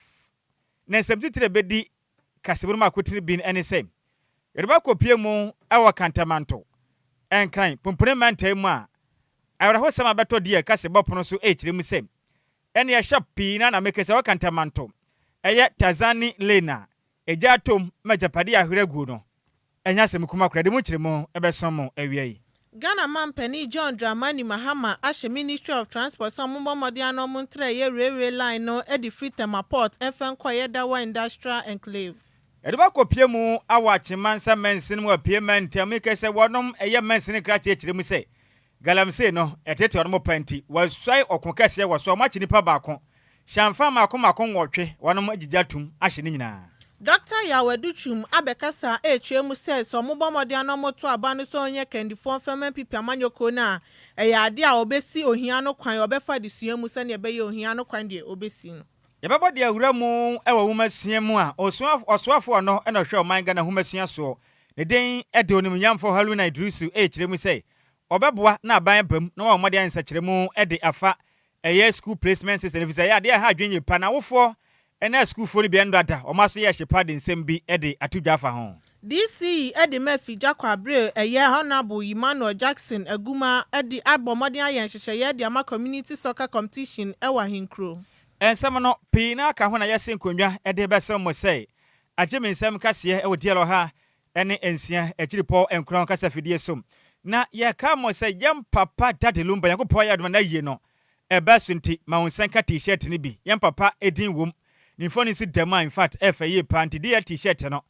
F, Ne nsɛmtitiri a ebedi kasamu no mu akotene bi ne sɛ, Yoruba akopue mu wɔ Kantamanto, Nkran, Pumpuni mantam mu a awerɛhosɛm a ɛbɛtɔ deɛ ɛka sɛ bɔ pono so rekyerɛ mu sɛ, Ɛnneɛ shop pii no ara na mekasa wɔ Kantamanto, ɛyɛ Tazani Lane a Egya atom ma agyapade a ahwer agu no ɛnyɛ asɛm kuma koraa de mu nkyeremu ɛbɛsõ mo awia yi. Ghana Manpanin John Dramani Mahama ahyɛ Ministry of Transport sɛ ɔmo mbɔ mmɔden ano ɔmo ntra ɛyɛ railway line no ɛde firi Tema Port ɛfɛ nkɔ ɛyɛ Dawa Industrial Enclave. Ɛdɔm akɔpue mu awɔ akyema nsa mɛnsen mu apue mɛntɛm yi kɛsɛ wɔnom ɛyɛ mɛnsen nkrataa ɛkyerɛ mu sɛ Galamsey no ɛtete wɔnom pa nti wɔasuae ɔko kɛseɛ wɔ so a wɔakye nipa baako, hyɛnfa mmaako mmaako nwɔtwe wɔnom agyigya atum ahye ne nyinaa. Dɔkta Yaw Adu Twum abɛkasa a ɛrekyerɛ mu sɛ sɛ wɔbɔ mmɔden a na wɔto aba no sɛ wɔnyɛ kandifoɔ mfa mma mpipi amanyɔ kuo no a, ɛyɛ adeɛ a wɔbɛsi ohia no kwan, wɔbɛfa adesua mu sɛdeɛ ɛbɛyɛ ohia no kwan deɛ wɔbɛsi no. Yɛbɛbɔ deɛ awura mu wɔ nwomasua mu a ɔsoafoɔ ɔno na ɔhwɛ ɔman Ghana nwomasua soɔ, ne din de Onimnyamfoɔ Haruna Iddrisu ɛrekyerɛ mu sɛ Wɔbɛboa na aban aba mu na wɔayɛ wɔn mmɔden ayɛ nsɛkyerɛmu de afa ɛyɛ school placement system no efisɛ ɛyɛ adeɛ a ɛha adwene yie pa na awofoɔ ne asukuufoɔ no bi ani dɔ ada wɔn aso yɛ hye pa de nsɛm bi de ato dwa afa ho. DC yi de ma fi gya kɔ abere ɛyɛ Honourable Ymanuel Jackson Agumaa de abɔ mmɔden ayɛ nhyehyɛeɛ de ama Community Soccer Competition wɔ ahenkuro. Nsɛm no, pii no ara ka ho na yɛse nkonnwa de bɛsem mo sɛe. Agye me nsɛm nkaseɛ wɔ DL ɔha ɛne nsia akyiripɔw nkuran kasa fidie so na yɛkaa mo sɛ yɛn papa Daddy Lumba Nyankopɔn ayɛ adom na n'ayie no ɛbaa so nti ma wo nsa nka T-shirt no bi yɛn papa din wom ne mfoni nso da mu a infact ɛfɛ yie paa nti dear T-shirt no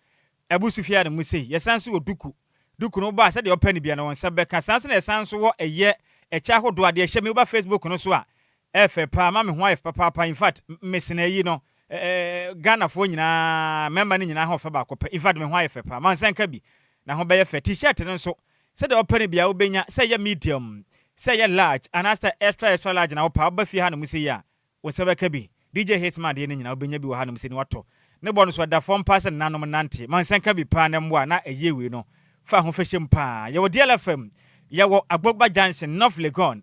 abu so fie ha no mu sei yɛsan nso wɔ duku duku no wobɔ a sɛdeɛ wopɛ no bia no wo nsa bɛka saa nso na yɛsan nso wɔ ɛyɛ ɛkyɛ ahodoɔ a deɛ hyɛ me woba Facebook no so a Ɛyɛ fɛ paa ma me ho ayɛ fɛ papaapa infact me sene ayi no Ghana foɔ nyinaa mmarima no nyinaa ho fɛ baako pɛ infact me ho ayɛ fɛ paa ma nsa nka bi na ho bɛyɛ fɛ T-shirt no nso sɛdeɛ wopɛ no biara wobɛnya sɛ ɛyɛ medium sɛ ɛyɛ large anaa sɛ extra extra large na wopɛ a woba fie hanom sei a wo nsa bɛka bi DJ Hitman adeɛ no nyinaa wobɛnya bi wɔ hanom sei na watɔ ne bɔ no nso ɛda fam paa sɛ nananom nante ma nsa nka bi paa na mmoa na ɛyie wei no fa ho fɛ hyɛ mu paa yɛwɔ DLFM yɛwɔ Agbogba Junction North Legon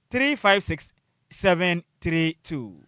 Three five six seven three two.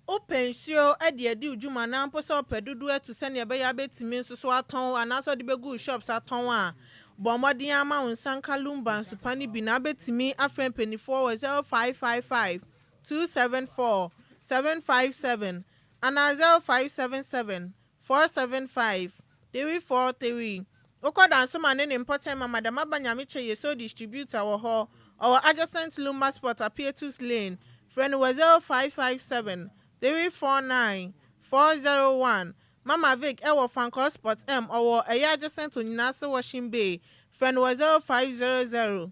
Wopɛ nsuo de adi wo dwuma anaa mpo sɛ wopɛ dodoɔ atu sɛdeɛ ɛbɛyɛ a wobɛtumi nso so atɔn anaasɛ wode bɛgu wo shops atɔn a, bɔ mmɔden ara ma wo nsa nka Lumba nsupa no bi na wobɛtumi afrɛ mpanimfoɔ wɔ zero five five five two seven four seven five seven anaa zero five seven seven Four seven five, three four three, Wokɔ Dansema ne ne mpɔtam ma Madam Aba Nyamekyɛ Yeso Distributor wɔ hɔ, ɔwɔ adjacent Lumba Spot Apietus Lane, frɛ no wɔ zero five five seven, three four nine, four zero one, Mama Vic wɔ Fankor Spot M, ɔwɔ ɛyɛ adjacent Onyina ase Washing Bay, frɛ no wɔ zero five zero zero,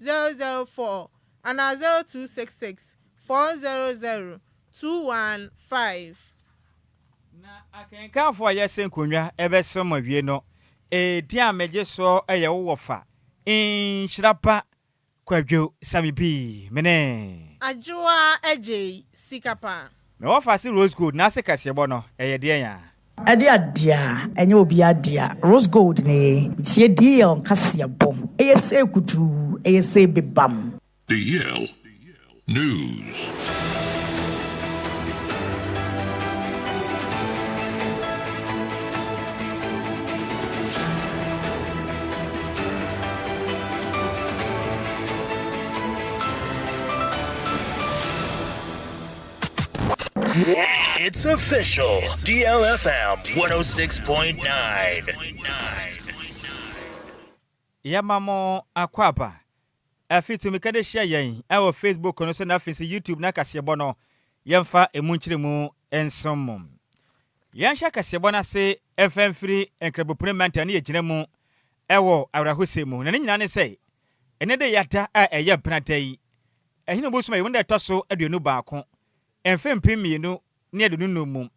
004 anaa 0266 400 215. Na akenkanfo a yɛsɛ nkonnwa bɛsɛm awie no, edin a megye so yɛ wo wɔfa, Nhyira Pa Kwadwo Samibii. Mene. Adwoa Agyei Sikapa. Me wɔfase rose gold n'ase kɛseɛbɔ no ɛyɛ deɛn aa? Ɛde adea ɛnyɛ obiaa dea rose gold ne ye tie dl kaseɛbɔ ɛyɛ see kutuu ɛyɛ see bebam. Dl news. It's official. DLFM 106.9. yɛma mo akwaaba afei tumi ka de hyia yɛn ɛwɔ facebook no so na afei sɛ youtube na kaseɛbɔ no yɛmfa ɛmu nkyerɛ mu nsom mo yɛnhyɛ kaseɛbɔ no ase ɛmfa mfiri nkrabopune mantam ne yɛgyina mu ɛwɔ awerɛhosɛ mu na ne nyinaa ne sɛ ɛnɛ de yɛada a ɛyɛ benada yi Ɛhe na obosu ayi wo no da ɛtɔ so aduonu baako mfe mpem mmienu ne aduonu nnum mu?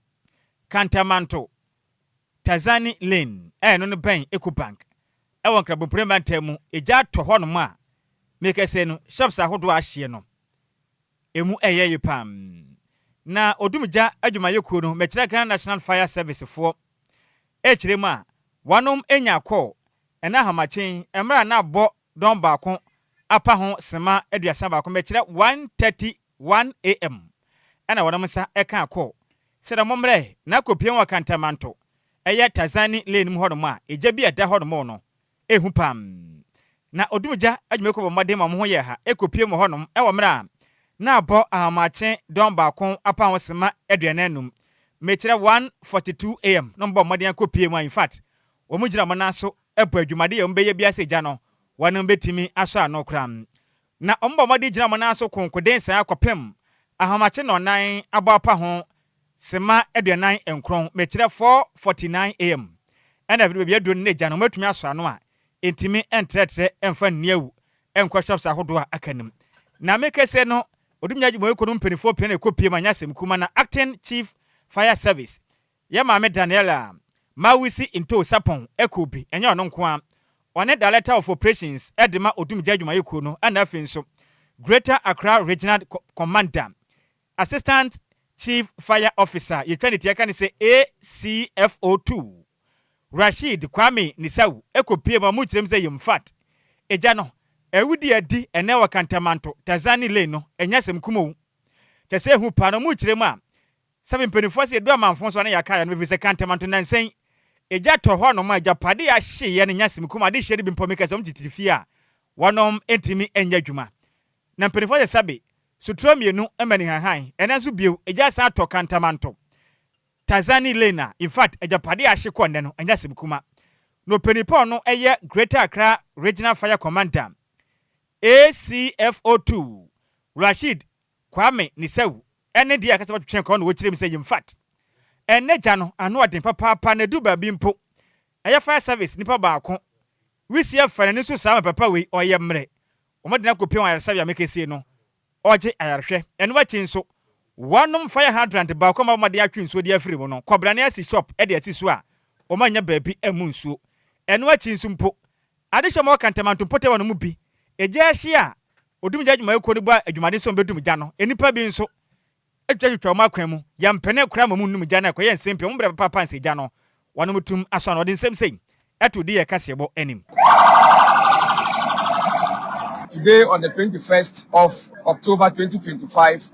Kantamanto, Tazani Lane a ɛno no bɛn Ecobank ɛwɔ Nkrabopire mantam mu egya atɔ hɔ nom a mekɛsɛ no shops ahodoɔ a ahyeɛ no emu ɛyɛ ye paa na odum gya adwumayɛ kuo no mɛkyerɛ Ghana National Fire Service foɔ ɛkyerɛ mu a wanom enya akɔɔ ɛna ahomakyen mmerɛ a na abɔ dɔn baako apa ho simma aduasa baako bɛkyerɛ 1:31 am, ɛna wɔnom nsa ɛkaa kɔ. Serɛ mo mmerɛ na kɔ pue wɔ Kantamanto, ɛyɛ Tazani lane mu hɔnom a egya bi a ɛda hɔnom no ɛhu pam. Na odum gya adwumayɛkuo bɔ mmɔden ma wɔn ho yɛɛ ha ɛkɔ pue wɔ hɔnom ɛwɔ mmerɛ a na abɔ ahomakye dɔn baako apa ho simma aduanan num mɛkyerɛ 1:42 am na wɔn bɔ mmɔden akɔ pue mu a in fact wɔn gyina wɔn nan so po adwumade a wɔbɛyɛ biara sɛ agya no, wɔn betumi asɔ ano koraa. Na wɔbɔ mmɔden gyina wɔn nan so konkoden sɛɛ ara kɔpem ahomakye nnɔnnan abɔ apa ho, simma aduanan nkron, mekyerɛ, four forty nine AM. Ɛna afei de baabi aduru no na agya no, wɔatumi asɔ ano a entumi ntrɛtrɛ mfa nni awu nkɔ shops ahodoɔ a aka no mu. Na me kese no, Odumnya Adwumayɛkuo no mu mpaninfoɔ pii na ɛkɔ pie ma nyɛ asɛm kuma na acting chief fire service Yɛ maame Daniela Mawisi Ntoo Sarpong Ekuo bi, ɛnyɛ ɔno nko ara, ɔne Director of Operations de ma Odumgya Adwumayɛkuo no ɛna afei nso Greater Accra Regional Commander, Assistant Chief Fire Officer, yɛtwa ne ti yɛka no sɛ ACFO Two, Rasheed Kwame Nisau ɛkɔpie mu a wɔkyerɛ mu sɛ Yemfat. Egya no awudie a adi ɛnnɛ wɔ Kantamanto, Tazani Lane no, ɛnyɛ asɛm kumoo. Kyerɛ sɛ ɛhu paa na wɔkyerɛ mu a Sɛbi mpaninfoɔ ase yɛdu amanfoɔ so a na yɛaka ayɛ no ɛfiri sɛ kantamanto nansa yi egya tɔ hɔ nom a agyapadeɛ a yɛahyeeɛ no nya sɛ mekum adehyeɛ no bi mpo meka sɛ wɔn tititi fie a wɔnom ntumi nyɛ adwuma na mpaninfoɔ sɛ sɛbi sotorɔ mmienu ma ne hanhan ɛnɛ nso bio egya asan atɔ kantamanto Tarzan ne Elaine a infact agyapadeɛ a ahye kɔ nnɛ no anya sɛ mekuma na ɔpanin pa ɔno yɛ Greater Accra Regional Fire Commander ACFO2 Rasheed Kwame ne Sawu ɛne deɛ akasa wɔtwetwɛn kɔɔ na wɔkyerɛ mu sɛ yinfat ɛnɛ gya no ano ɔden papaapa na ɛduru baabi mpo ɛyɛ fire service nipa baako wisie fa n'ani so saa ma papa wei ɔyɛ mmerɛ wɔde no akɔpia wɔ ayaresabea mekesie no ɔgye ayarehwɛ ɛno akyi nso wɔnom fire hydrant baako a wɔma wɔde atwe nsuo de afiri mu no kɔbrane asi shop de asi so a wɔannya baabi ammu nsuo ɛno akyi nso mpo Adehyɛ ma wɔka ntɛmanto mpɔtam hɔ no mu bi. Gya ahye a Odumgya Adwumayɛkuo no bɔ a adwumaden sɛ wɔbɛdum gya no, nnipa bi nso twitwatwitwa wɔn akwan mu. Yɛmpene koraa ma wɔnnum gya no a ɛkɔyɛ nsɛmpi a wɔn brɛ papaapa nsɛ gya no. Wɔnom tum asɔ ano. Wɔde nsɛm sei to di yɛn kaseɛbɔ anim. Today on the twenty first of October twenty twenty five,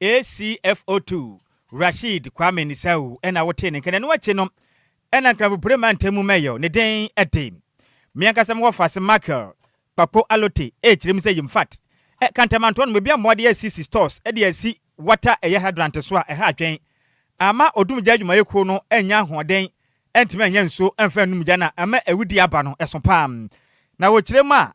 ACFO2 Rasheed Kwame Nisau na wotee ne nka na ɛno akyi no na Nkrampopre mantam mu mayor ne den de. Me ankasa me wɔfase Michael Kpakpo Allote rekyerɛ mu sɛ yimfat ɛ Kantamantoa no mebia mmoa de asisi stores de asi water ɛyɛ hydrant so a ɛha adwen ama odum gya adwumayɛ kuo no annya ahoɔden antumi annya nsuo amfa anum gya na ama awudie aba no ɛso paa na wɔkyerɛ mu a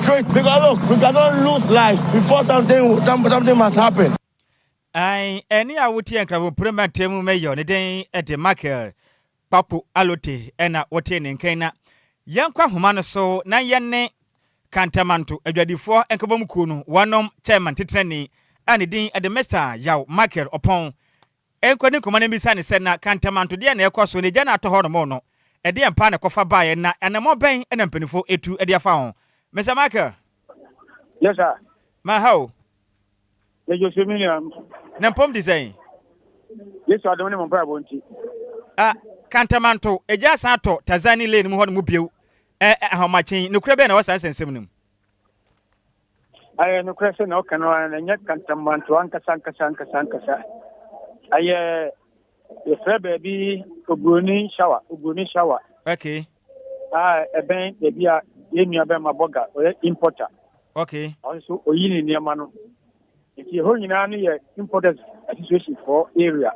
Straight because look we cannot lose life before something something must happen. Ae, ɛne a woteɛ nkrabompire mmeranteɛ mu mɛyɔ ne den de Michael Kpakpo Allote na wotee ne nkan na Yɛnkɔ ahoma no so na yɛne Kantamanto adwadifoɔ nkabɔmu kuo no wɔnom chairman titenani a ne din de Mister Yaw Michael Ɔpɔn Ɛnkɔ ne koma na ɛmmisa no sɛ, Na Kantamanto, deɛn na ɛrekɔ so? N'agya no a atɔ hɔ nom no, ɛdeɛn paa na ɛkɔfa baeɛ, na anammɔn bɛn na mpanimfoɔ atu de afa ho? Mister Michael? Yes, sir. M'aha o. Yɛgye ɔsɛ me nua. Na mpɔm te sɛn? Yesu adom ne mo mpaebɔ nti. Ah, Kantamanto, agya asan atɔ Tazani Lane mu hɔ no mu bio. Ɛ, ahomakyen, nokorɛ bɛn na ɛwɔ saa nsɛnsɛm no mu? Ayɛ nokorɛ sɛ na ɔka no ara na ɛnyɛ kantamanto ankasa ankasa ankasa ankasa. Ayɛ yɛfrɛ baabi Ogroni Shawa, Ogroni Shawa. Okay. Ah, ɛbɛn baabi a yɛn nua bɛma bɔga ɔyɛ importer. Okay. Ɔno nso oyi ne nneɛma no. Nti ɛhɔ nyinaa no yɛ importers association fɔ area.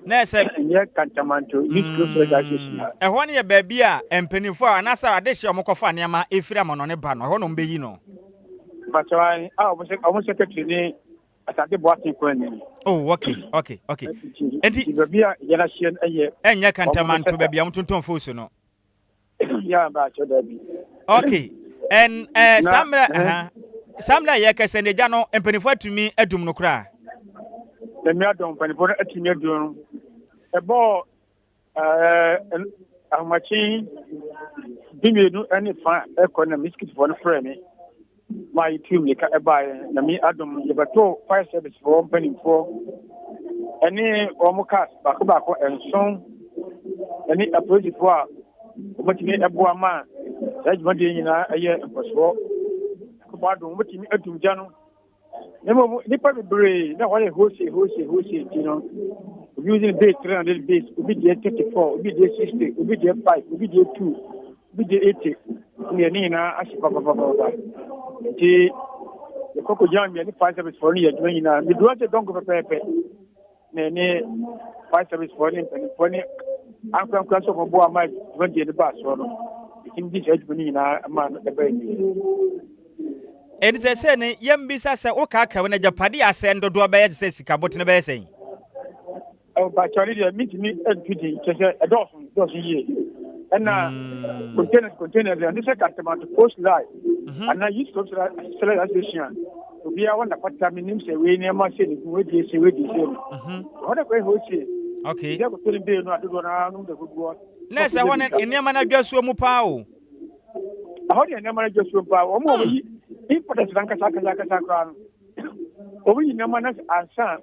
Na ɛsɛ. Ɛnyɛ kantamanto youth close mm, association. Ɛhɔ no yɛ baabi a mpanimfoɔ a anaasɛ adehyeɛ a wɔkɔfa nneɛma ɛfiri amanɔne ba no ɛhɔ na wɔbɛyi no. Bàtà a wɔn secretary ne asante bɔ ase kwan ni. Oh okay okay okay. Nti baabi a yɛn ahyia no yɛ. Ɛnyɛ kantamanto baabi a wɔn tontɔn foosu no. ya ba akyɛ da bi. okay ɛn ɛɛ saa mmerɛ ɛhɛn saa mmerɛ a yɛkɛsɛ no agya no mpanimfoɔ atumi adum no koraa. ɛmi adɔm mpanimfoɔ no atumi adum no ɛbɔɔ ɛɛ ahomakye bi mmienu ɛne fa ɛkɔ na miskitifoɔ no frɛ mi. Maa yɛtuu mmirika baeɛ. Nyame adom yɛbɛtoo fire service foɔ mpanimfoɔ ɛne wɔn cars baako baako nson ɛne apolisifoɔ a wɔbɛtumi ɛboa ma saa dwumadie nyinaa ɛyɛ nkɔsoɔ. Ɛkɔmɔ adom wɔbɛtumi atum gya no. Na mmom nnipa bebree na wɔyɛ hose hose hose nti no obi using base 300 base obi deɛ 34 obi deɛ 60 obi deɛ 5 obi deɛ 2 Wogye ete deɛ ne nyinaa ahye papapapapa nti yɛkɔ kɔgyina mmea ne fire service foɔ no yɛ adwuma nyinaa meduru ase dɔnko pɛpɛɛpɛ na ɛne fire service foɔ ne mpanimfoɔ ne ankorankora sɛ ɔmɔboa ma adwuma deɛ no baa soɔ no ɛtumi gye saa adwuma no nyinaa ma no ɛbɛɛ nie ɛnti sɛ sɛ ne yɛmbisa sɛ wokaakae wo no agyapade asɛn dodoɔ bɛyɛ te sɛ sika botene bɛyɛ sɛn Mpakyɛ ne deɛ mentumi nto din kyɛ sɛ ɛdɔɔso dɔɔso yie ɛna hmm. containers containers ɛno sɛ kantamanto post line mhm. anaa youth cultural select association obiara wɔn napata menim sɛ wei nneɛma sɛ ne gu wadie sɛ wadie sɛ no mhm. wɔn akɔyɛ hɔ sie okay ɛdɛ kɔtɔ ne bee no adodoɔ no ara nom dɛ guguɔ na ɛsɛ hɔ no nneɛma no adwa suo mu paa o ɛhɔ deɛ nneɛma no adwa suo mu paa wɔn a wɔyi hmm. importers no ankasa ankasa ankasa koraa no wɔyi nneɛma no ansa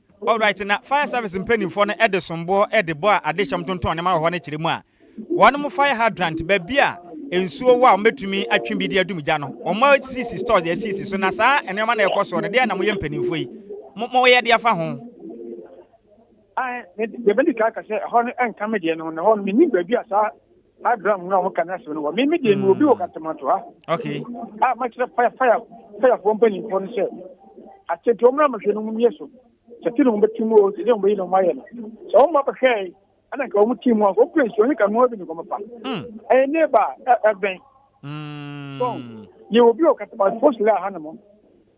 Alright, na fire service mpaninfoɔ no de somboɔ de bɔ a adehyɛm tontɔn nneɛma wɔ hɔ no kyerɛ mu a, wɔnom fire hydrant, baabi a nsuo wɔ a wɔbɛtumi atwe bi de adum gya no, wɔn asisi stores de asisi so, na saa nneɛma no a ɛkɔ soɔ no, deɛn na moyɛ mpaninfoɔ yi mo moyɛ de afa ho? Ae, me de, deɛ mɛdi kan aka sɛ ɛhɔ no ɛnka me deɛ no ho, na ɛhɔ no mennim baabi a saa Abraham na wɔn ka n'asɛm no wɔ me me deɛ mi obi wɔ hmm. katamatoa. Okay. A ah, makyerɛ faya faya fayafoɔ mpanyinfoɔ no sɛ atete wɔn na mahwɛ no mu yɛ so tete na wɔn bɛti mu o tete wɔn bɛyi na wɔn ayɛ no sɛ wɔn ba bɛhwɛ yi ɛna nka wɔn ti mu a wɔn pere nsuo ne ka nua bi ne kɔn pa. Hmm. Ɛyɛ ne ba ɛbɛn So yɛ obi o kata ba post la ha no mo.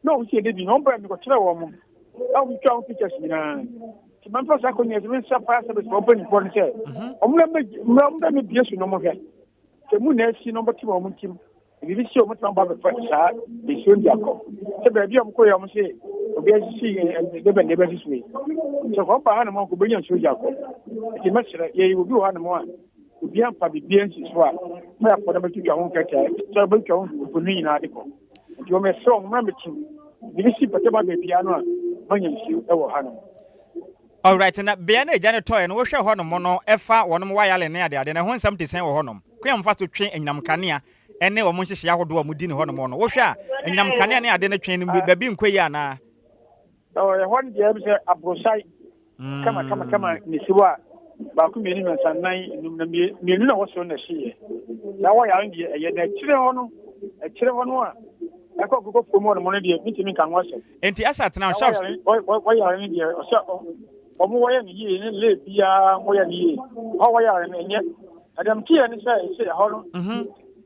Na wɔn si ɛdɛ bi na wɔn bɛn mi kɔ kyerɛ wɔn mo. Ɛwɔ mi twa wɔn pictures nyinaa. Ti mɛ nfa saa kɔ nyɛ sɛbɛn sa fire service wɔn bɛn nipɔ no sɛ. Wɔn na mɛ mɛ wɔn bɛn mi bie so na wɔn hwɛ. Sɛ mu na ɛsi na wɔn bɛ ti wɔn ntim. Ebi bi si wɔn ti wɔn ba bɛ fɛ saa esuo ndi akɔ. Sɛ baabi a wɔn kɔ yɛ wɔn se obi asisi ɛdɛ bɛn ɛdɛ bɛ sisi. Sɛ wɔn ba ha no mo kɔ bɛ nyɛ nsuo gya akɔ. Ti mɛ srɛ yɛ obi wɔ ha no mo a. Obiara mfa biribiara nsi so a mmerɛ afoɔ no abɛtwitwa ho nkɛtɛ, sɛ wɔbɛtwa ho mfoni no nyinaa de kɔ. Nti wɔn yɛsrɛ wɔn mmerɛ metu mede si mpɛtɛ ba baabiara no a manya nsuo wɔ ha nom. Alright, na bea no a egya no tɔeɛ no wohwɛ hɔ nom no ɛfa wɔnom wayalen ne adeade no ɛho nsɛm te sɛn wɔ hɔ nom? Kwan a wɔfa so twe anyinam nkanea ɛne wɔn nhyehyɛeɛ ahodoɔ a wɔdi no hɔ nom no wohwɛ a anyinam nkanea ne ade no twe no baabi nkɔ yie anaa? Ɛhɔ no deɛ sɛ aborosae mm. kama kama kama na ɛsi hɔ a baako mmienu mmiɛnsa nnan enum na mmienu na wɔsoro na ɛhyeeɛ na wɔyɛ ano deɛ ɛyɛ na akyire hɔ no akyire hɔ no a ɛkɔ nkokɔ fam hɔ nom no deɛ mentumi nka ho asɛm enti ɛsɛ atena shops wɔyare no deɛ ɔsɛ ɔmo wɔyɛ no yie ne lee biara wɔyɛ no yie hɔ wɔyare no ɛnyɛ ɛdɛm teɛ ne sɛ ɛsɛ ɛhɔ no mhm.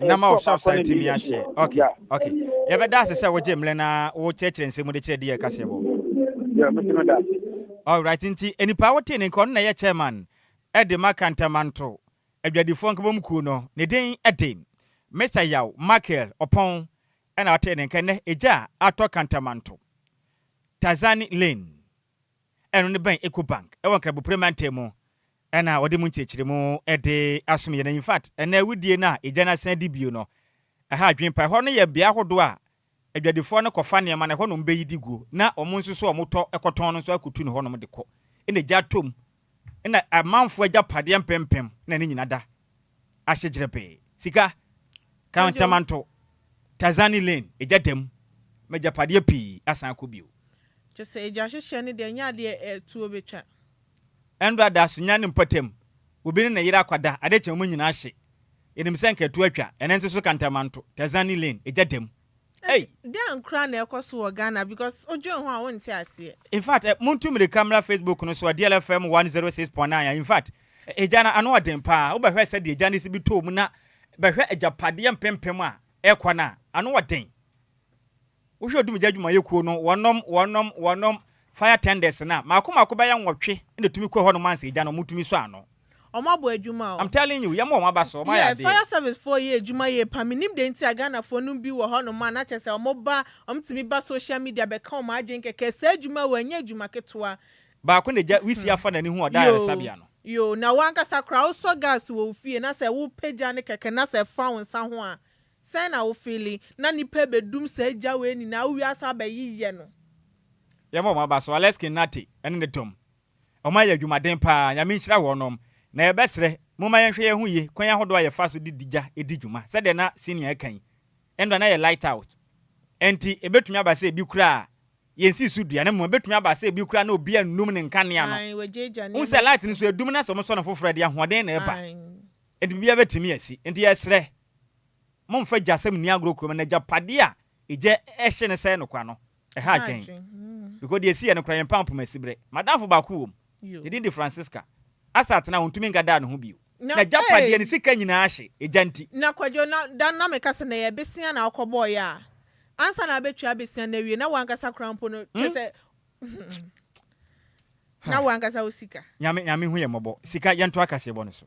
na ma ɔhyɛ ɔsa tumi ahyɛ ok ok yɛbɛda ase sɛ wogye mmerɛ na wokyerɛkyerɛ nsɛm mu de kyerɛ deɛ ɛkaseɛ bɔ alright nti nnipa wotee ne nka ɔno na ɛyɛ chairman ɛde ma kantamanto adwadifoɔ nkabom kuo no ne din ɛde Mr. Yaw Michael Ɔpɔn ɛna wotee ne nka nnɛ ɛgya atɔ kantamanto Tazani Lane Ɛno no bɛn Ecobank ɛwɔ Nkrabopre mantam mu ɛna wɔde mu nkyerekyeremu ɛde asom yɛn infact ɛnɛ awudie no a egya no asan adi bio no ɛha adwene paa ɛhɔ no yɛ bea ahodoɔ a adwadifoɔ no kɔfa nneɛma no ɛhɔ nom bɛyi di guo na wɔn nso so a wɔn tɔ ɛkɔtɔn no nso akɔtu no hɔ nom de kɔ ɛna egya atɔ mu ɛna amanfoɔ agyapadeɛ mpempem na ne nyina da ahye gyerebee, sika, kantamanto, Tazani Lane, egya da mu, m'agyapadeɛ pii asan akɔ bio. Kyerɛ sɛ egya hyehyɛ no deɛ ɛnyɛ adeɛ a atuo bɛtwa. Ɛnda ada so nya ne mpɔtam, obi ne ne yere akwada, ade kye wɔn nyinaa hye, yɛnim sɛ nka atuo atwa, ɛno nso so kantamanto, Tazani Lane, egya da mu. Ei! Dɛn koraa na ɛkɔ so wɔ Ghana because wodwen ho a wonte aseɛ. Infact eh montu mirika mmra Facebook no so a DLFM 106.9 a infact egya no ano ɔden paa wobɛhwɛ sɛdeɛ egya no si bi tɔɔ mu na bɛhwɛ agyapadeɛ mpempem a ɛkɔ no a ano ɔden wohwɛ odumgya adwumayɛkuo no wɔnom wɔnom wɔnom Fire tenders no a, mako mako bɛyɛ nwɔtwe na ɛtumi kɔ hɔnom ansa egya no, wɔtumi sɔ ano. Wɔn abɔ adwuma o. I'm telling you, yɛma wɔn aba so, wɔn ayɛ Yeah, adeɛ. fire service foɔ yɛ adwuma yie paa, me nim deɛ nti a Ghana foɔ nom bi wɔ hɔ nom a na kyerɛ sɛ wɔn ba, wɔn tumi ba social media bɛ ka wɔn adwene kɛkɛ, saa adwuma wei ɛnyɛ adwuma ketewa, Baako na egya wisi afa n'ani hu ɔda yoo, ayaresabea no. yoo, na wo ankasa koraa wo sɔ gas wɔ wo fie na sɛ wo pagya no kɛkɛ na sɛ ɛfa wo nsa ho a, Sɛn na wo feeli na nipa bɛdum saa gya wei nyinaa wo wiase abɛyeyɛ no. Yɛmfa wɔn aba so, Alex Kinati ne ne dɔm. Wɔayɛ adwumaden paa, Nyame nhyira wɔnom. Na yɛbɛsrɛ, momma yɛnhwɛ yɛn ho yie, kwan ahodoɔ a yɛfa so de di gya di dwuma. Sɛdeɛ na Senior reka yi, ɛnora na yɛ light out. Ɛnti, ɛbɛtumi aba sɛ ebi koraa, yɛnsii so dua, na mmom ɛbɛtumi aba sɛ ebi koraa na obi annum ne nkanea no. Wohu sɛ light no nso, ɛdum na sɛ wɔsɔ no foforɔ a, ɛde ahoɔden na ɛba. Enti biribiara bɛtumi asi. Enti yɛsrɛ, mommfa gyasɛm nni agorɔ kurom no, agyapadeɛ a egya hye no sɛe no kwa no, ɛha adwene. Because deɛ ɛsiiɛ no koraa, yɛn mpampam asiberɛ. M'adamfo baako wom, ne din de Francisca. Asa atena hɔ, ɔntumi nka daa ne ho bio. N'agyapadeɛ, ne sika nyinaa ahye, egya nti. Na Kwadwo, na da no na meka sɛ, na ɛyɛ besia na wokɔbɔeɛ a, ansa na abɛtwa besia no awie, na wo ankasa koraa mpo no, kyerɛ sɛ, na wankasa wo sika. Nyame nyame hu yɛn mmɔbɔ sika yɛntoa kaseɛbɔ no so.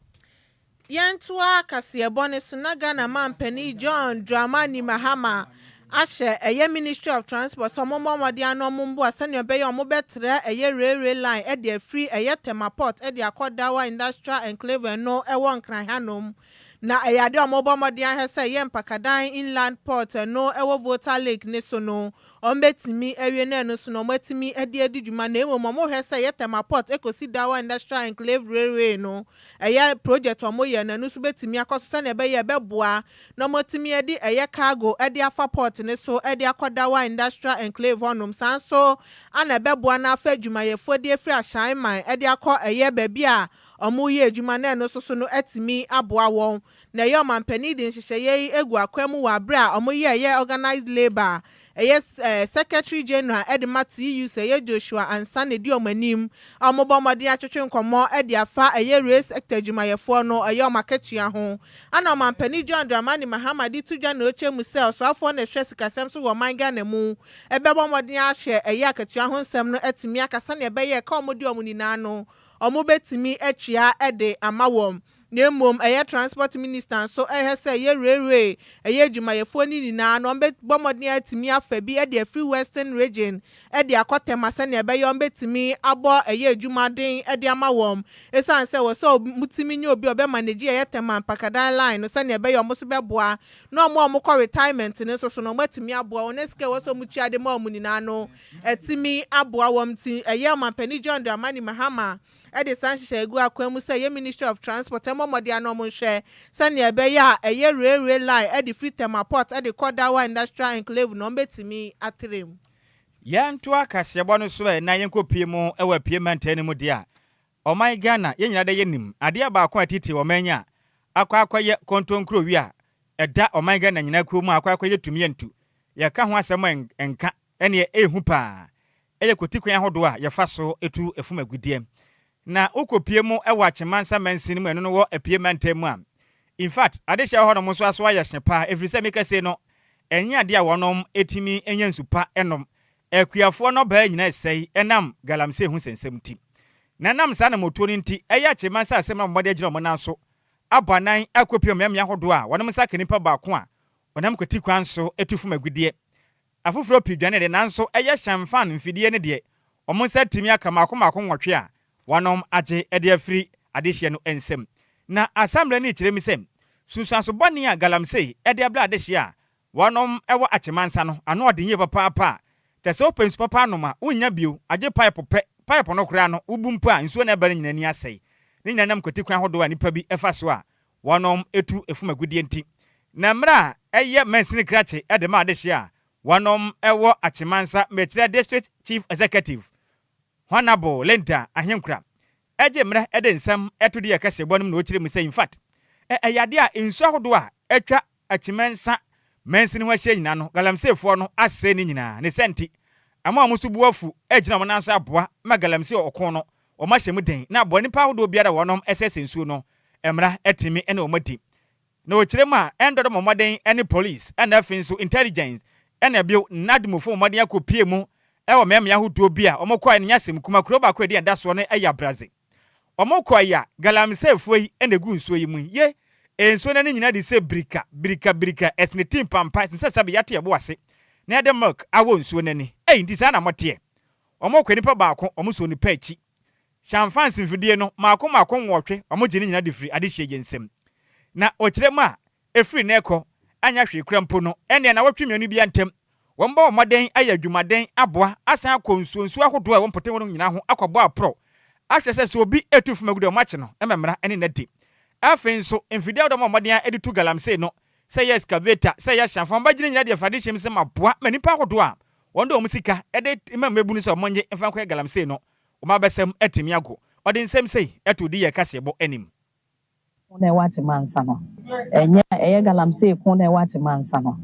Yɛntoa kaseɛbɔ no so na Ghana manpanin John Dramani Mahama ahyɛ ɛyɛ Ministry of Transport sɛ ɔmo mmɔ mmɔden ano ɔmo mboa sɛnea ɛbɛyɛ ɔmo bɛtra ɛyɛ railway line ɛde afiri ɛyɛ Tema Port ɛde akɔ Dawa Industrial Enclave ɛno ɛwɔ Nkran hanom na ɛyɛ adeɛ a ɔmo bɔ mmɔden ahwɛ sɛ ɛyɛ Mpakadan Inland Port ɛno ɛwɔ Volta Lake ne so no wɔbetumi awie no ɛno so na wɔatumi de adi dwuma na mmom wɔhwɛ sɛ ɛyɛ Tema Port kosi Dawa Industrial Enclave Railway no ɛyɛ project a wɔyɛ no ɛno nso betumi akɔ so sɛnea ɛbɛyɛ a ɛbɛboa na wɔatumi de ɛyɛ cargo de afa port no so de akɔ Dawa Industrial Enclave hɔnom saa nso na ɛbɛboa na afa adwumayɛfoɔ de afiri Ahyɛn man de akɔ ɛyɛ baabi a wɔreyɛ adwuma na ɛno nso so no atumi aboa wɔn na ɛyɛ ɔmanpanin de nhyehyɛeɛ yi agu akwan mu wɔ aberɛ a wɔyɛ ɛyɛ organised labour a ɛyɛ Secretary General de ma TUC ɛyɛ Joshua Ansah na ɛdi wɔn anim a wɔbɔ mmɔden atwetwe nkɔmmɔ de afa ɛyɛ Rail Sector adwumayɛfoɔ no ɛyɛ wɔn akatua ho ana ɔmanpanin John Dramani Mahama de to dwa na ɔkyɛ mu sɛ ɔsoafoɔ na ɛhwɛ sikasɛm so wɔ ɔman Ghana mu bɛbɔ mmɔden ahwɛ ɛyɛ akatua ho nsɛm no atumi aka sɛdeɛ ɛbɛyɛ ɛka a wɔdi wɔn nyinaa no wɔbɛtumi atua de ama wɔn. na mmom ɛyɛ transport minister nso rehwɛ sɛ ɛyɛ railway ɛyɛ adwumayɛfoɔ no nyinaa no wɔbɛbɔ mmɔden atumi afa bi de afiri western region de akɔ Tema sɛdeɛ ɛbɛyɛ wɔbɛtumi abɔ ɛyɛ adwuma den de ama wɔn ɛsiane sɛ ɛwɔ sɛ wɔtumi nya obi a ɔbɛ manage ɛyɛ Tema Mpakadan line no sɛdeɛ ɛbɛyɛ wɔn nso bɛboa na wɔn a wɔkɔ retirement no nso so no wɔatumi aboa wɔn na sika ɛwɔ sɛ wɔtua de ma wɔn nyinaa no atumi aboa wɔn nti ɛyɛ Ɔmampanin John Dramani Mahama a de saa nhyehyɛe gu akwan mu sɛ ɛyɛ Ministry of Transport mmɔ mmɔden ano wɔn nhwɛ sɛnea ɛbɛyɛ a ɛyɛ railway line ɛde firi Tema Port ɛde kɔ Dawa Industrial Enclave no wɔn bɛtumi atrɛ mu. Yɛntoa kaseɛbɔ no so ɛ na yɛnkɔ pie mu wɔ Apue Mantan no mu deɛ a ɔman Ghana yɛn nyinaa dɛ yɛnim adeɛ baako a ɛtete ɔman yi a akɔ akɔyɛ kontonkuro wi a ɛda ɔman Ghana nyinaa kuo mu a akɔ akɔyɛ tumi yɛntu yɛka ho asɛm a ɛnka ɛneɛ ɛyɛ hu paa yɛ kwati kwan ahodoɔ a yɛfa so tu fom agudeɛ. Na wokɔ pie mo wɔ Akyemansa Mansin mu ɛno no wɔ Apue Mantam mu a, in fact adehyeɛ wɔ hɔ nom nso aso ayɛ hye paa ɛfiri sɛ meka sei no ɛnyɛ adeɛ a wɔnom tumi nya nsu pa nom. Akuafoɔ nnɔbaa nyina ɛsɛe ɛnam galamsey ho nsɛnsɛm nti. Na ɛnam saa anamotuo no nti ɛyɛ Akyemansa asɛm na wɔde agyina wɔn nan so abɔ anan akɔ pie wɔ mmeammea ahodoɔ a wɔnom nsa ka nipa baako a ɔnam kwati kwan so tu fom agudeɛ Afoforɔ pii dwane de nanso ɛyɛ hyɛn fan mfidie no deɛ wɔn nsa atumi aka mmaako mmaako nwɔtwe a wɔanom agye de afiri adehyeɛ no nsam. Na asammerɛ no rekyerɛ mu sɛ nsunsuanso bɔne a galamsey de abrɛ adehyeɛ a wɔnom wɔ Akyemansa no ano ɔden yie papaapa a kyerɛ sɛ wopɛ nsu papa anom a wonnya bio agye paepo pɛ, paepo no koraa no wobu mpo a nsuo na ɛba no nyinaa ani asɛe. Ne nyinaa nam kwatikwan ahodoɔ a nnipa bi fa so a wɔtu fom agudeɛ nti, na mmerɛ a ɛyɛ mansini krakye de ma adehyeɛ a, wɔwɔ Akyemmansa Mekyerɛ District Chief Executive, Hon. Linda Ahenkura, gye mmerɛ de nsɛm to deɛ kɛseɛbɔ no mu na ɔkyerɛ mu sɛ, In fact, ɛyɛ adeɛ a nsuo ahodoɔ a atwa Akyi mɛnsa mansini ho ahyia nyinaa no, Galamseyfoɔ no asɛe ne nyinaa. Ne saa nti, ɛma wɔn so bo afu gyina wɔn nan so aboa ma Galamsey ɔko no, wɔahyɛ mu den, na aboa nnipa ahodoɔ biara a wɔnom ɛsɛsɛ nsuo no, mmara atumi ne wɔn adi. Na wɔkyerɛ mu a, ɛndɔ dɔm mmɔden ne polis, ɛna afei nso intelligence, ɛna bio, Nadmufo mmɔden akɔpue mu wɔ mmeammea ahodoɔ bi a wɔkɔɔɛ no nyɛ asɛm kuma, kuro baako a ɛdin ɛda soɔ no yɛ Abradze. Wɔn kɔɔ yi a, galamiseefoɔ yi na ɛgu nsuo yi mu yi. Ye, e nsuo no ani nyinaa de sɛ birika, birika, birika, ɛsene ti mpampa, ɛsene sɛ sɛbe yɛato yɛn bo ase na yɛde milk awɔ nsuo no ani. Ei, nti saa na moteɛ? Wɔn kɔɔ nipa baako, wɔn sɔɔ nipa akyi. Hyɛnfansi mfidie no, mmaako mmaako nwɔtwe, wɔn gye ne nyinaa de firi adehyeɛ gye nsam. Na wɔkyerɛ mu a, Ɛfiri nnɛ rekɔ, anyɛ hwee koraa mpo no, ɛnneɛ nnawɔtwe mmienu biara ntam, wɔbɛbɔ mmɔden ayɛ adwumaden aboa asan akɔ nsuonsuo ahodoɔ a ɛwɔ mpɔtam hɔ no nyinaa ho akɔbɔ aporɔw ahwɛ sɛ sɛ obi retu fam agu deɛ wɔakye no ma mmara ne no adi. Afei nso, mfidie ahodoɔ a wɔbɔ mmɔden ara de tu galamsey no, sɛ ɛyɛ excavator, sɛ ɛyɛ hyɛnfam ba gyinagyina deɛ Awurade hyɛm sɛ ma boa ma nnipa ahodoɔ a wɔde wɔn sika de ma mmabunu sɛ wɔnnye mfa nkɔyɛ galamsey no, wɔn abasam atumi ago. Ɔde nsɛm sei too Diyɛ kaseɛbɔ anim. ko na ɛwɔ Atemansa no, ɛnyɛ ɛyɛ galamsey ko na ɛwɔ Atemansa no,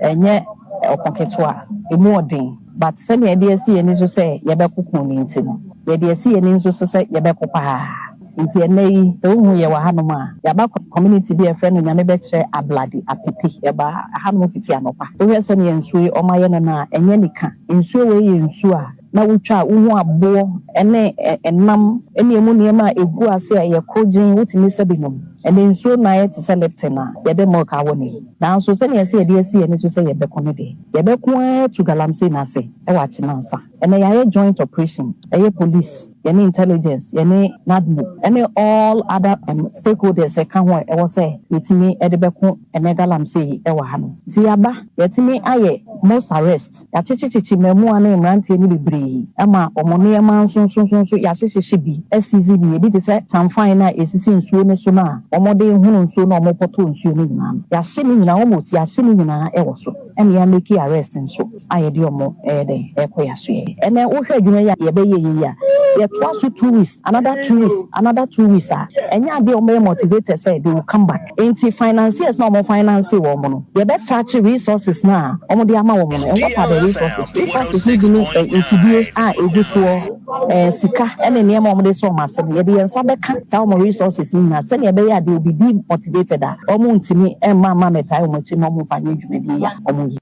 ɛnyɛ ɔko ketewa, ɛmu ɔden, but sɛnea yɛde asi yɛn ani so sɛ yɛbɛko ko no nti no, yɛde asi yɛn ani so sɛ yɛbɛko paa. Nti ɛnnɛ yi, sɛ wohu yɛn wɔ hanom a, yɛaba community bi a yɛfrɛ no Nyame Bɛkyerɛ Abladi Apete. Yɛbaa hanom fiti anɔpa. Wohwɛ sɛnea nsuo yi wɔayɛ no no a, ɛnyɛ anika. Nsuo wei yɛ nsuo a. na wotwa wo ho aboɔ ne ɛnam ne ɛmu nneɛma a ɛgu ase a ɛyɛ korogyenn, wotumi sa bi nom. Ɛnna nsuo no ayɛ te sɛ Lipton a yɛde milk awɔ no yi. Nanso sɛnea ɛsɛ yɛde asi yɛn ani so sɛ yɛbɛko no deɛ, yɛbɛko ara atu galamsey no ase wɔ Akyem ansa. Ɛnna yɛayɛ joint operation, ɛyɛ police, yɛne intelligence, yɛne NADMO ne all other stakeholders ka ho a ɛwɔ sɛ yɛtumi de bɛko ɛnɛ galamsey yi wɔ ha no. Nti yɛaba, yɛatumi ayɛ most arrest, yɛakyekyekyekye mmaamua ne mmeranteɛ no bebree ma wɔn nneɛma nso nso nso nso yɛahyehyehye bi, asiizi bi, ɛbi te sɛ kyanfan no a ɛsisi nsuo no so no a wɔde hono nsuo na wɔpɔtɔ nsuo no nyinaa no, yɛahye ne nyinaa almost yɛahye ne nyinaa wɔ so. ɛna yɛ make arrest nso a yɛde wɔn ɛyɛ dɛn ɛkɔ yɛ asoɛɛ ɛnɛ wohwɛ adwuma yi a yɛbɛyɛ yɛ yi a yɛtoa so two weeks another two weeks another two weeks a ɛnyɛ adeɛ a wɔn bɛyɛ motivated sɛ they will come back nti financiers no a wɔn financee wɔn no yɛbɛ touch resources no a wɔn de ama wɔn no and what are the resources resources no bi ne mfidie a ɛgu soɔ eh, sika ne nneɛma a wɔde sɔ wɔn ase no, yɛde yɛn nsa bɛka saa wɔn resources no nyinaa sɛnea ɛbɛyɛ a they will be demotivated a wɔntumi mma mma mmɛtae wɔn akyi na wɔmfa nyɛ dwumadie yi a wɔyɛ.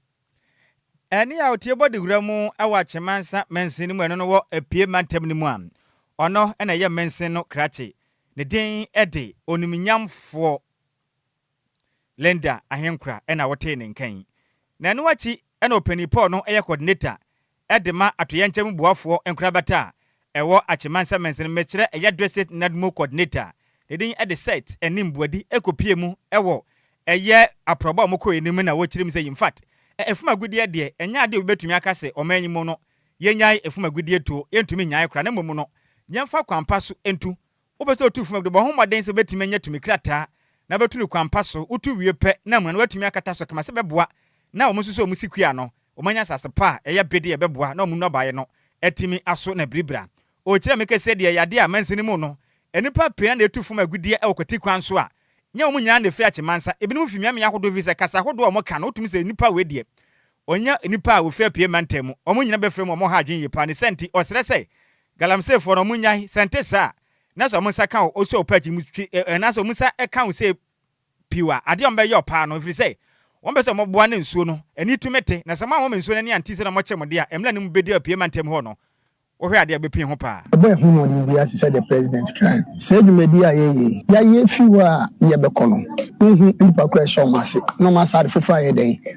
Ɛne a ɔtie bɔ dewura mu wɔ Akyemansa mansin no mu ɛno no wɔ Apue mantam no mu a ɔno na ɛyɛ mansin no krakye. Ne din de Onimnyamfoɔ. Linda Ahenkura na wotee ne nka yi. Na ɛno akyi na Ɔpanyin Paul no yɛ coordinator de ma Atoyɛnkyɛm boafoɔ nkorabata a ɛwɔ Atse Mansa Mansini Mekyerɛ Ɛyɛ Dwesith Nadmo coordinator ne din de Seth Anim Boadi kɔpie mu wɔ ɛyɛ aprɔba a wɔkɔeɛ no mu na wɔkyerɛm sɛ infact ɛfum agudeɛ deɛ ɛnyɛ adeɛ a obi bɛtumi aka sɛ ɔman yi mu no yɛnyae ɛfum agudeɛ tuo yɛntumi nnyae koraa na mmom no yɛmfa kwan pa so ntu Wopɛ sɛ otu fam a, bɔ ho mmɔden sɛ wubetumi anya tumi krataa na wobɛtu no kwan pa so. Wotu wie pɛ na amuna no, woatumi akata so kama sɛ ɛbɛboa na wɔasosɔ wɔn sikuya no. Wɔanya asase pa a ɛyɛ bede a ɛbɛboa na wɔn nnɔbaeɛ no atumi aso na biribira. Ɔrekyerɛ me kɛse deɛ ɛyɛ adeɛ a mansin mu no, nnipa pii na ɛtu fam agudeɛ wɔ kwati kwan so a nyɛ wɔn nyinaa na ɛfiri Achimansa. Ebinom firi mmeammea ahodoɔ ɛfiri sɛ kasa ahodoɔ a wɔka no wotumi sɛ nnipa wei deɛ ɔnyɛ nnipa a wɔfiri apueɛ mantam mu. Wɔn nyinaa bɛfrɛ mu a wɔha adwene yie pa. Ne saa nti, ɔsrɛ sɛ Galamsey foɔ no ɔmo nyae sɛnte saa na sɛ ɔmo nsa ka wo osɔ wo pɛ akyi no twi ɛ ɛ anaasɛ ɔmo nsa ɛka wo sei piw a adeɛ a ɔmo bɛyɛ wo paa no ɛfiri sɛ wɔn pɛ sɛ ɔmo boa ne nsuo no ani tumi te na sɛ mo anwɔ mo nsuo no ani anti sɛ na ɔmo kye mo deɛ a ɛmla no mu bɛdi apue ma ntɛm hɔ no wohwɛ adeɛ a ɛbɛpue ho paa. Ɛbɛɛ ho mmɔden biara te sɛ deɛ President kae no, saa dwumadie a yɛyɛ yi, yɛayɛ firi hɔ a yɛbɛkɔ no, wonhu nnipa koraa a ɛhyɛ wɔn ase, na wɔn asaade foforɔ ayɛ dɛn?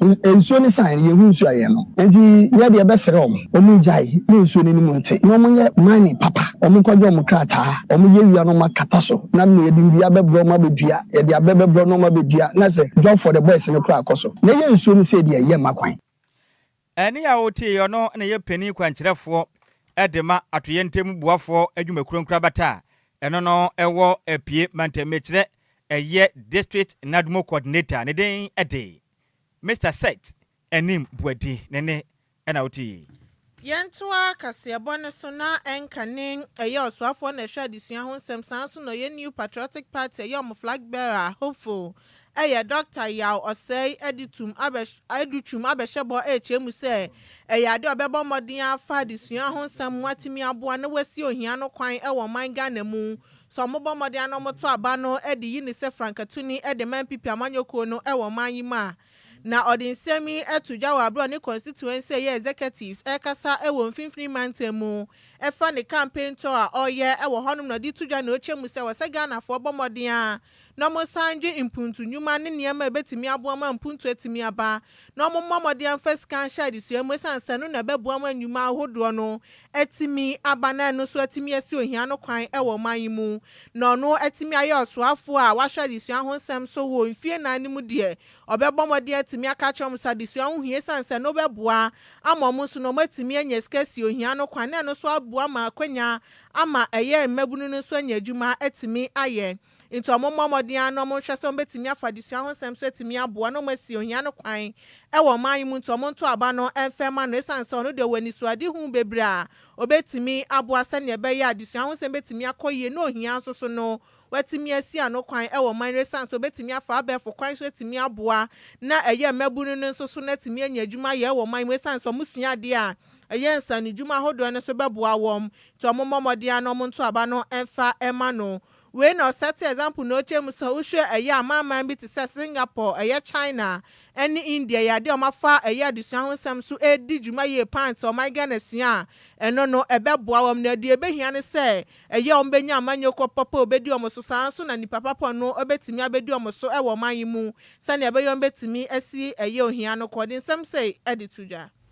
Nsuo no saeɛ no, yɛnhu nsuo a yɛnom. Enti yɛ deɛ bɛsrɛ wɔn, wɔngyae ne nsuo no anim nte, na wɔnyɛ mine papa, wɔnkɔgye wɔn krataa, wɔnyɛ wia na wɔakata so, na na yɛde nnua bɛbrɛ wɔn abɛdua, yɛde abɛ bɛbrɛ na wɔabɛdua, na sɛ Job for the boys no koraa kɔ so, na ɛyɛ nsuo no sei deɛ, yɛmma kwan. Ɛnne a woteeɛ yi, ɔno na ɛyɛ panin kwankyerɛfoɔ de ma atoyerɛntam boafoɔ adwumakuo nkorabata a ɛno no wɔ Apue mantammiekyerɛ ɛyɛ District Nadmo Coordinator ne den de Mister Seth Anim Boadi ne nne na wote yi. Yɛntoa kaseɛbɔ no so na ɛnka ne ɛyɛ ɔsoafoɔ na ɛhwɛ adesua ho nsɛm saa ara nso na ɔyɛ New Patriotic Party ɛyɛ wɔn flag bearer hopeful ɛyɛ Doctor Yaw Ɔsɛe adi tum abɛ adu twum abɛhyɛ bɔ rekyerɛ mu sɛ ɛyɛ adeɛ a ɔbɛbɔ mmɔden afa adesua ho nsɛm ho atumi aboa na wasi ohia no kwan wɔ ɔman Ghana mu Sɛ wɔbɔ mmɔden ara na wɔto aba no de yi no sɛ frankatuni de ma NPP amanyɔkuo no wɔ ɔman yi mu a, na ɔde nsɛm yi to dwa wɔ bere a ɔne constituency a ɛyɛ executives rekasa wɔ Mfinfini Mantam mu fa ne campaign tour a ɔreyɛ wɔ hɔnom na ɔde reto dwa nea ɔkyɛ mu sɛ wɔsɛ Ghanafoɔ bɔ mmɔden ara na wɔnsan nnwen mpuntu nnwuma ne nneɛma a ebetumi aboa ma mpuntu atumi aba, na wɔmmɔ mmɔden mfa sika nhyɛ adesua mu esiane sɛ ɛno na ɛbɛboa ma nnwuma ahodoɔ no atumi aba na ɛno nso atumi asi ohia ano kwan wɔ ɔman yi mu na ɔno atumi ayɛ ɔsoafoɔ a wahwɛ adesua ho nsɛm so wɔ mfie nnan no mu deɛ ɔbɛbɔ mmɔden atumi aka akyerɛ wɔn sɛ adesua ho hia esiane sɛ ɛno bɛboa ama wɔn nso na wɔatumi anya sika asi ohia ano kwan na ɛno nso aboa ma akwanya ama ɛyɛ mmabunu no nso anya adwuma atumi ayɛ. Enti wɔmmɔ mmɔden ara na wɔnhwɛ sɛ wɔbɛtumi afa adesua ho nsɛm so atumi aboa na wɔasi ohia no kwan wɔ ɔman yi mu nti wɔnto aba no mfa mma no ɛsiane sɛ ɔno deɛ ɔwɔ anisoadehu bebree a ɔbɛtumi aboa sɛdeɛ ɛbɛyɛ a adesua ho nsɛm bɛtumi akɔ yie na ohia nso so no wɔatumi asi ano kwan wɔ ɔman no ɛsiane sɛ ɔbɛtumi afa abɛɛfo kwan so atumi aboa na ɛyɛ mmabunu no nso so no atumi anya adwuma ayɛ wɔ ɔman yi mu ɛsiane sɛ wɔsua adeɛ a ɛyɛ nsanodwuma ahodoɔ no nso bɛboa wɔn nti wɔmmɔ mmɔden ara na wɔnto aba no mfa mma no. Wei na ɔsɛte example na ɔkyɛ mu sɛ wohwɛ ɛyɛ amanman bi te sɛ Singapore, ɛyɛ China ɛne India yɛ adeɛ a wɔafa ɛyɛ adesua ho nsɛm so ɛredi dwuma yie paa nti sɛ wɔman Ghana sua a ɛno no ɛbɛboa wɔn na deɛ ɛbɛhia ne sɛ ɛyɛ wɔbɛnya amanyɔkuo papa ɔbɛdi wɔn so saa nso na nipa papa no bɛtumi abɛdi wɔn so wɔ ɔman yi mu sɛdeɛ ɛbɛyɛ wɔbɛtumi asi ɛyɛ ohia no kɔ de nsɛm sei de to dwa.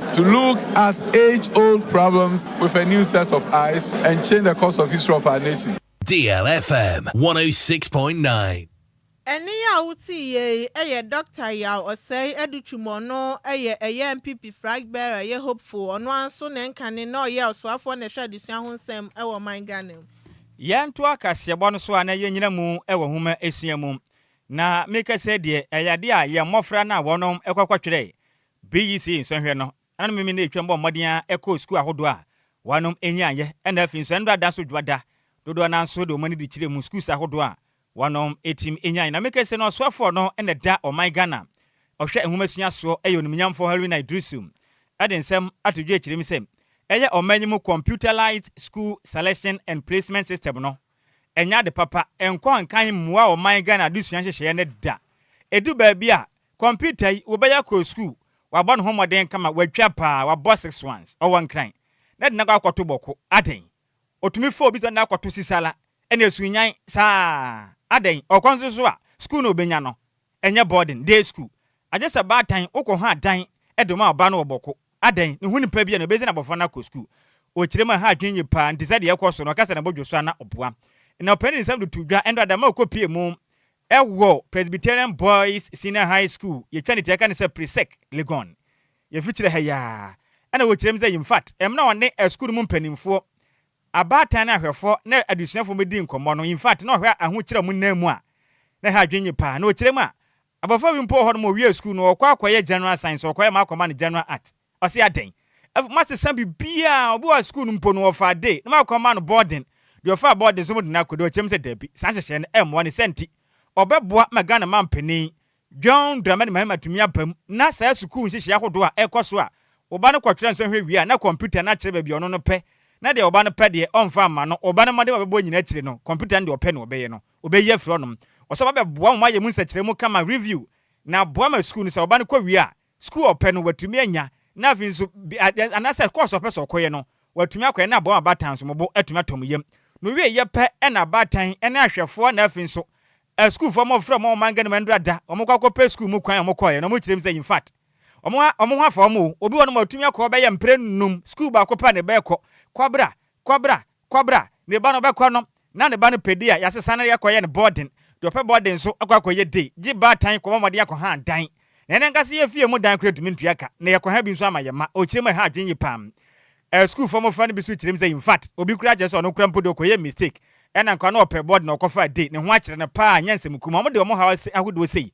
To look at age old problems with a new set of eyes and change the course of history of our nation. Deal FM 106.9. Ɛnne yi a woteeɛ yi yɛ Doctor Yaw Osei Adutwum ɔno yɛ ɛyɛ NPP Frag Bearer yɛ Hopeful ɔno ara nso ne nka ne na ɔyɛ Ɔsoafoɔ na ɛhwɛ Adesua ho nsɛm wɔ ɔman Ghana mu. Yɛn toa kaseɛbɔ no so a na yɛn nyina mu wɔ nwoma sua mu. Na me kɛsɛ deɛ ɛyɛ adeɛ a yɛn mmɔfra no a wɔnom kɔ kɔ twerɛ BEC nsɔnhwɛ no, ɛnanom mmienu na etwaam bɔɔ mmɔden ara kɔɔ sukuu ahodoɔ a wɔnom nnye anyɛ, ɛna afei nso ɛno ada so dwoada, dodoɔ no ara nso de wɔn ani de kyerɛɛ mu sukuus ahodoɔ a wɔnom tim nya anyɛ. Na meka sɛ na ɔsoafoɔ no na ɛda ɔman Ghana ɔhwɛ nwomasua soɔ yɛ onimnyamfoɔ Haruna Iddrisu de nsɛm ato dwa kyerɛ mu sɛ ɛyɛ ɔman yi mu computerised school selection and placement system no ɛnyɛ ade papa, ɛnkɔ nkan mmoa ɔman Ghana adesua nhyehyɛeɛ no da, ɛdu baabi a Computer yi wo bɛyɛ kɔɔ school wabɔ ne ho mmɔden kama watwa paa wabɔ six ones ɔwɔ nkran na de no akɔ akɔto bɔko adɛn ɔtumi fa obi sɛ ɔde no akɔto sisala ɛna ɛsu nyan saa adɛn ɔkɔ nso so a school na ɔbɛnya no ɛnyɛ boarding day school agye sɛ baatan wokɔ ha dan de ma ɔba no wɔ bɔko adɛn ne ho nipa bi a na ɔbɛsi no abɔfra no akɔ school ɔkyerɛ mu a ha adwene nye paa nti sɛdeɛ ɛkɔ so no ɔka sɛ na bɔdwo so a na ɔboa na ɔpɛ ne nsɛm de to dwa ɛnde adama ɔkɔ pie mu Ɛwɔ Presbyterian Boys Senior High School, yɛtwa ne ti a yɛka no sɛ Presec, Legon. Yɛfi kyerɛ ha yi ara, ɛna wɔkyerɛ mu sɛ Yimfat mmra ɔne asukuu no mu mpanimfoɔ, abaatan ne ahwɛfoɔ ne adesuafoɔ mmɛdi nkɔmmɔ no. Yimfat, na ɔhwɛ ahokyerɛ a wɔnna mu a, na ɛha adwene yie pa ara. Na ɔkyerɛ mu a, abɔfra bi mpo wɔ hɔ no, ma ɔwiee sukuu no, ɔkɔ akɔyɛ General Science, ɔkɔyɛ ma akɔma no General Arts. Ɔse adɛn? Ɛf moasesa biribiaa, obi wɔ hɔ a sukuu no mpo no wɔfaa day na moakɔ ama no boarding, deɛ ɔfaa boarding nso mode no akɔ day, ɔteam sɛ daabi, saa nhyehyɛɛ no ɛmmoa, ne saa nti ɔbɛboa ma Ghana manpanin John Dramani Mahama atumi aba mu na saa sukuu nhyehyɛɛ ahodoɔ a ɛrekɔ so a wo ba no kɔtwerɛ nsɔhwɛ wie a na kɔmputa no akyerɛ baabi a ɔno no pɛ na deɛ wo ba no pɛ deɛ ɔmfa mma no, wo ba no mmɔden a ɔbɛbɔ nyinaa akyire no kɔmputa no deɛ ɔpɛ na ɔbɛyɛ no ɔbɛyi afiri hɔnom. Ɔse ɔba bɛboa mo moayɛ mu nsɛkyerɛmu kama, review, na aboa ma sukuu no sɛ wo ba no kɔ wie a sukuu a ɔpɛ no watumi anya, na afei nso anaasɛ kɔɔso a ɔpɛ sɛ ɔkɔyɛ no watumi akɔyɛ, na aboa ma abaatan nso wɔn bo atumi atɔ wɔn yam. Na owieeɛ pɛ na abaatan ne ahwɛfoɔ na afei nso sukuufoɔ a wɔfrɛ wɔn a wɔmanga no ma nnura da, wɔkɔ akɔpɛ sukuu mu kwan a wɔkɔeɛ no, wɔkyerɛ mu sɛ in fact wɔn ho afa wɔn o, obi wɔ hɔnom a watumi akɔ bɛyɛ mprɛ nnum, sukuu baako pɛ a na ɛbɛkɔ, kɔ bra, Kɔbra, kɔbra, ne ba no ɔbɛkɔ no, na ne ba no pɛ di a, yɛasesa no yɛkɔyɛ no boarding. Deɛ ɔpɛ boarding nso kɔ akɔyɛ day. Gye baatan kɔbɔ mmɔden akɔhan dan. Na yɛn ankasa yɛn fie mu dan koraa yɛntumi ntua ka, na yɛkɔha bi nso ama yɛn mma. Ɔkyerɛ mu a, ɛha adwene yie pa ara. Ɛɛ, sukuufoɔ mmɔfra no bi nso kyerɛ mu sɛ, in fact, obi koraa kyerɛ sɛ ɔno koraa mpo deɛ ɔkɔyɛɛ mistake, ɛna nka na ɔpɛ boarding na ɔkɔfaa day. Ne ho akyere no pa ara, ɛnyɛ nsɛm kumaa. Wɔde wɔn haw ahodoɔ sei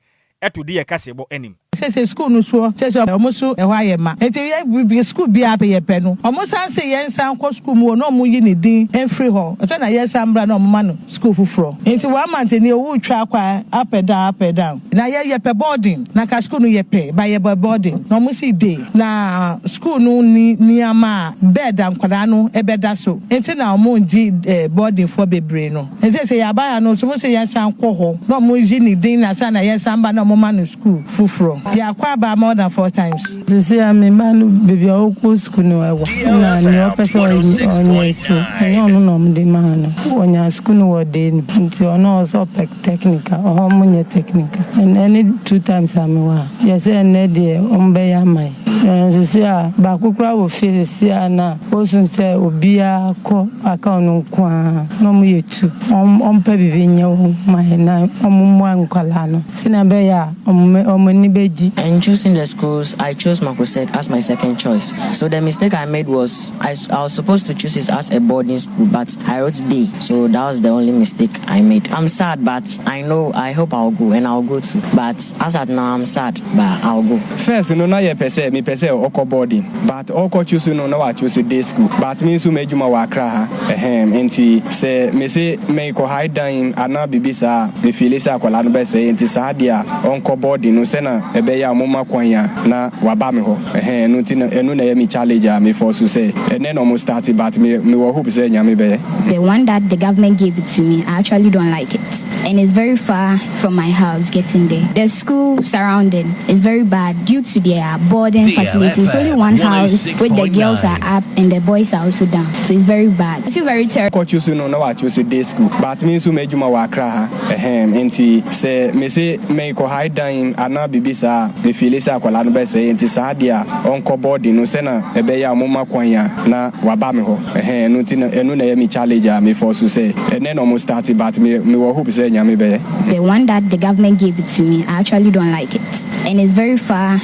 to di yɛ kaseɛbɔ anim. Sese sukuu no soɔ kyerɛ sɛ ɔmo so ɛhɔ ayɛ ma enti yɛ biribi sukuu biaa pɛ yɛ pɛ no ɔmo san se yɛn san kɔ sukuu mu hɔ na ɔmo yi ne din mfiri hɔ sɛ na yɛn san mbra na ɔmo ma no sukuu foforɔ enti one month nie ɔwoo twa kɔ up and down up and down na yɛ yɛ pɛ boarding na ka sukuu no yɛ pɛ but yɛ bɔ boarding na ɔmo sii day na sukuu no nni nneɛma a bed a nkwadaa no ɛbɛ da so enti na ɔmo ngye boarding foɔ bebree no. Ɛsɛ sɛ yɛaba ha no, ɔsomfo se yɛsan kɔ hɔ na wɔgye ne din na ansa na yɛsan ba na wɔma no sukuu foforɔ. Yɛakɔ aba more than four times. Sesei a me ba no baabi a ɔkɔ sukuu no ɛwa na nea ɔpɛ sɛ ɔyɛ ɔnyɛ so ɛnyɛ ɔno na wɔde maa no. Ɔnyaa sukuu no wɔ ɔda anum nti ɔno ɔwɔ sɛ ɔpɛ technical, ɛhɔ wɔnyɛ technical. Ɛnnɛ ne two times a mewɔ ha, yɛsɛ ɛnnɛ deɛ wɔbɛyɛ ama yɛn. Nanso se a baako koraa wɔ fie sese a na osun sɛ obiara kɔ aka ɔno nko ara na ɔmo yɛ tu. Ɔmpɛ biribi nyɛ wɔn ma yɛ na ɔmo mmoa nkwadaa no senea ɛbɛyɛ a ɔmo ani begye. In choosing the schools, I chose Makuset as my second choice. So the mistake I made was I I was supposed to choose it as a boarding school but I wrote day so that was the only mistake. I made am sad but I know I hope I'll go and I'll go too but as at now I'm sad but I'll go. First no na yɛpɛ sɛ mepɛ sɛ ɔkɔ boarding but ɔkɔ choose no na wachoose day school but me nso m'adwuma wɔ Accra ha ɛhem nti sɛ mese meekɔ hae dan mu anaa biribi saa a me feeli sɛ akwadaa no bɛsɛe nti saa deɛ a ɔnkɔ boarding no sɛna ɛbɛyɛ a momma kwan a na waba me hɔ. Ɛhɛn ɛno ntsi no ɛno na ɛyɛ me challenge a me fɔ so sɛ ɛnɛ na ɔmo start but me me wɔ hope sɛ Nyame bɛyɛ. The one that the government gave it to me I actually don't like it and it's very far from my house getting there the school surrounding is very bad due to their boarding facility it's only one house which the girls are up and the boys are also down so it's very bad I feel very terrible. Ɔkɔ Chosu no na ɔakɔ Chosu day school but me nso m'adwuma wɔ Accra ha. Ɛhɛm, enti sɛ mese meekɔ hae dan anaa biribi saa a, me feeli sɛ akwadaa no bɛsɛe, enti saa deɛ a ɔnkɔ boarding no sɛ na ɛbɛyɛ a wɔma kwan a na waba me hɔ. Ɛhɛm, ɛno nti na ɛno na ɛyɛ me challenge a me fɔ so sɛ ɛnnɛ na wɔn start but me me wɔ hope sɛ Nyame bɛyɛ. The one that the government gave it to me, I actually don't like it and it's very far.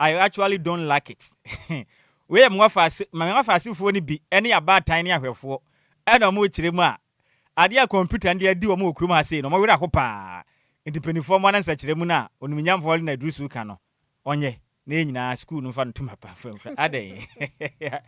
I actually don't like it Wei yɛ Mwafaase, ma Mwafaasefoɔ no bi ne abaatan ne ahwɛfoɔ na wɔn rekyerɛ mu a, adeɛ a kɔmputa no de adi wɔn wɔ kurom ha sei no, wɔn werɛ aho pa ara. Nti mpaninfoɔ mmoa na nsɛkyerɛmu no a Onimunyamfoɔ Helen Aduru-Suuka no wɔnyɛ na yɛn nyinaa sukuu no mfa no ntom ha pa mfa mfra, adɛn?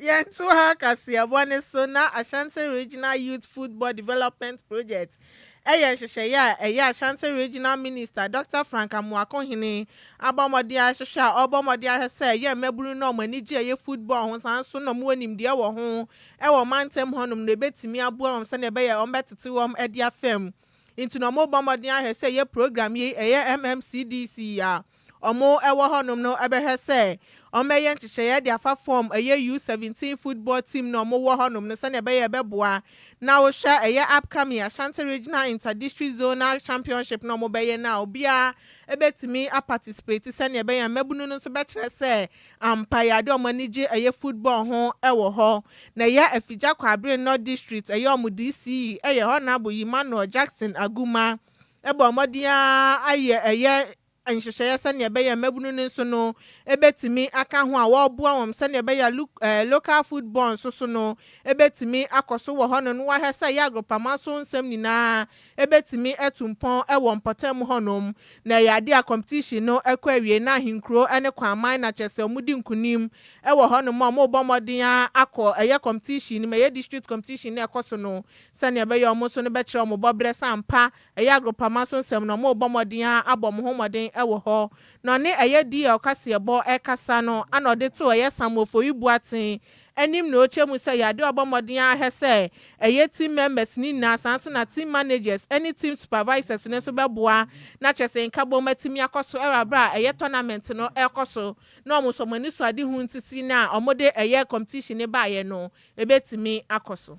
Yɛnto ha kaseɛbɔ no so na Ashanti Regional Youth Football Development Project yɛ nhyehyɛeɛ a ɛyɛ Ashanti Regional Minister Dɔkta Frank Amoako Hene abɔ mmɔden ahwehwɛ a ɔrebɔ mmɔden ahwɛ sɛ ɛyɛ mmabunu no a wɔn ani gye ɛyɛ football ho saa nso na wɔwɔ nimdeɛ wɔ ho wɔ ɔmantam hɔnom no ɛbɛtumi aboa wɔn sɛdeɛ ɛbɛyɛ wɔbɛtete wɔn adi afam nti na wɔrebɔ mmɔden ahwɛ sɛ ɛyɛ program yei ɛyɛ MMCDC a wɔwɔ hɔnom no bɛhwɛ sɛ wɔbɛyɛ nhyehyɛeɛ de afa fɔm ɛyɛ U17 football team no a wɔwɔ hɔnom no sɛdeɛ ɛbɛyɛ ɛbɛboa na wohwɛ ɛyɛ upcoming Ashanti Regional Inter-District Zonal Championship no a wɔbɛyɛ no a obiara bɛtumi a participate sɛdeɛ ɛbɛyɛ a mmabunu no nso bɛkyerɛ sɛ ampa yɛ adeɛ a wɔn ani gye ɛyɛ football ho wɔ hɔ na ɛyɛ Afigya Kwabre North District ɛyɛ wɔn DC yɛ Honourable Emmanuel Jackson Aguma bɔɔ mmɔden ara ayɛ ɛyɛ nhyehyɛeɛ sɛdeɛ ɛbɛyɛ a mmabunu no nso no bɛtumi aka ho a wɔreboa wɔn sɛdeɛ ɛbɛyɛ a lu ɛɛ local food board nso so no bɛtumi akɔ so wɔ hɔnom na wɔahwɛ sɛ ɛyɛ agorɔpama so nsɛm nyinaa bɛtumi atu mpɔn wɔ mpɔtam hɔnom na ɛyɛ adeɛ a competition no kɔ awiei na ahenkuro ne Kwaman na kyerɛ sɛ wɔdi nkunim wɔ hɔnom a wɔrebɔ mmɔden ara akɔ ɛyɛ competition no mu ɛyɛ district competition no a ɛkɔ so no Sɛnea ɛbɛyɛ wɔn nso no bɛkyerɛ wɔn bɔberɛ sɛ ampa ɛyɛ agorpama so nsɛm na wɔrebɔ mmɔden ara abɔ wɔn ho mmɔden wɔ hɔ. Na ɔne ɛyɛ DL kaseɛbɔ rekasa no ana ɔde too ɛyɛ Sam Ofowi Boateng anim na ɔrekyerɛ mu sɛ ɛyɛ adeɛ a ɔbɔ mmɔden ara hwɛ sɛ ɛyɛ team members no nyinaa saa nso na team managers ne team supervisors no nso bɛboa na kyerɛ sɛ nkabom atumi akɔ so wɔ aberɛ a ɛyɛ tournament no rekɔ so na wɔn nso wɔn anisoadehu ntete no a wɔde ɛyɛ competition no baeɛ no ɛbɛtumi akɔ so.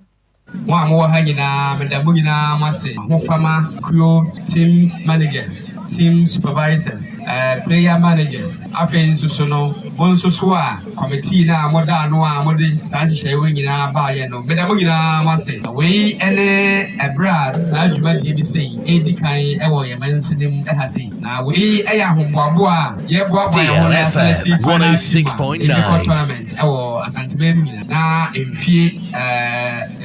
Mo a mowɔ ha nyinaa, meda mo nyinaa mo ase, Ahofama kuo team managers, team supervisors, player managers, afei nso so no, mo nso so a kɔmitee no a moda ano a mode saa nhyehyɛeɛ wei nyinaa baeɛ no, meda mo nyinaa mo ase. Wei ne ɛberɛ a saa dwumadie bi sei redi kan wɔ yɛn mansini mu ha sei, na wei yɛ ahoboaboa a yɛreboaboa yɛn ho na yɛasɛlɛkte final team a yɛde bɛkɔ tournament wɔ Asante man mu nyinaa. na mfeɛ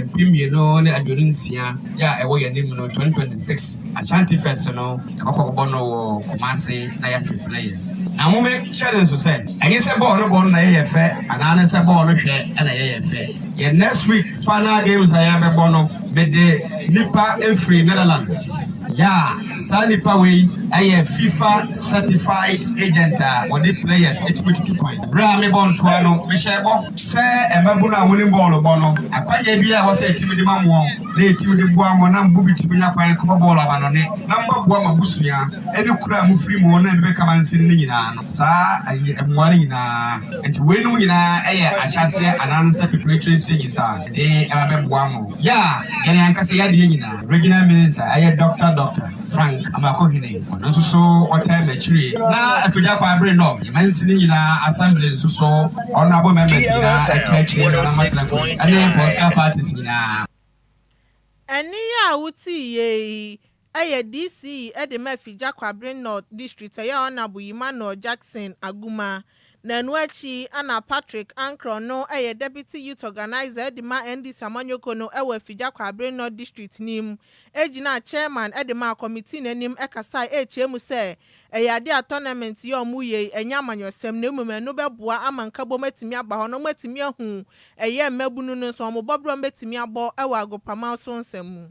mpem mmienu ne aduonu nsia yi a ɛwɔ yɛn anim no, 2026 Ashanti Fest no, yɛbɛkɔ akɔbɔ no wɔ Kumasi na yɛatwe players. Na monhyɛ no nso sɛ, ɛnyɛ sɛ bɔɔl no bɔ no na ɛyɛ yɛn fɛ anaa ne sɛ bɔɔl no hwɛ na ɛyɛ yɛn fɛ. Yɛn next week final games a yɛbɛbɔ no, mede nnipa firi Netherlands. Yeah! Saa nipa wei yɛ fifa certified agent a wɔde players tumi tutu kwan. Berɛ a mebɔ ntoa no, mehyɛɛ bɔ sɛ mmabunu a wɔnim bɔɔlo bɔ no, akwannyɛ biara a ɛwɔ sɛ yɛtumi de ma wɔn na yɛtumi de boa wɔn na mo mu bi tumi nya kwan kɔbɔ bɔɔlo amannɔne na moaboa mo abusua ne kuro a mofiri mu na ɛde bɛka mansin no nyinaa no. Saa mmoa no nyinaa nti, weinom nyinaa yɛ ahyɛaseɛ anaasɛ preparatory stages a yɛde ba bɛboa mo. Yɛ a yɛn ankasa yɛn adeɛ nyinaa. Regional Minister ɛyɛ Dɔkta Dɔkta Frank Amakɔhene, ɔno nso so ɔtaa m'akyire na Afigya Kwabre North yɛ mansini nyinaa Assembly nso so Honourable Members nyinaa ɛtaa akyire na na matena kuro yi ɛne Political Parties nyinaa. Ɛnne yi a wotiiɛ yi yɛ DC de ma Afigya Kwabre North District ɛyɛ Honourable Emmanuel Jackson Aguma. Na ɛno akyi na Patrick Ankrel no yɛ Deputy Youth Organiser de ma NDC amanyɔkuo no wɔ Afigya Kwaabere North District no mu, gyinaa Chairman de maa Committee no anim kasae kyerɛɛ mu sɛ ɛyɛ adeɛ a Tournament yi a wɔreyɛ yi nyɛ amanyɔsɛm na mmom ɛno bɛboa ama nkabom atumi aba hɔ na wɔatumi ahu ɛyɛ mmabunu no nso wɔn bɔberɛ a wɔbɛtumi abɔ wɔ agoprama so nsɛm mu.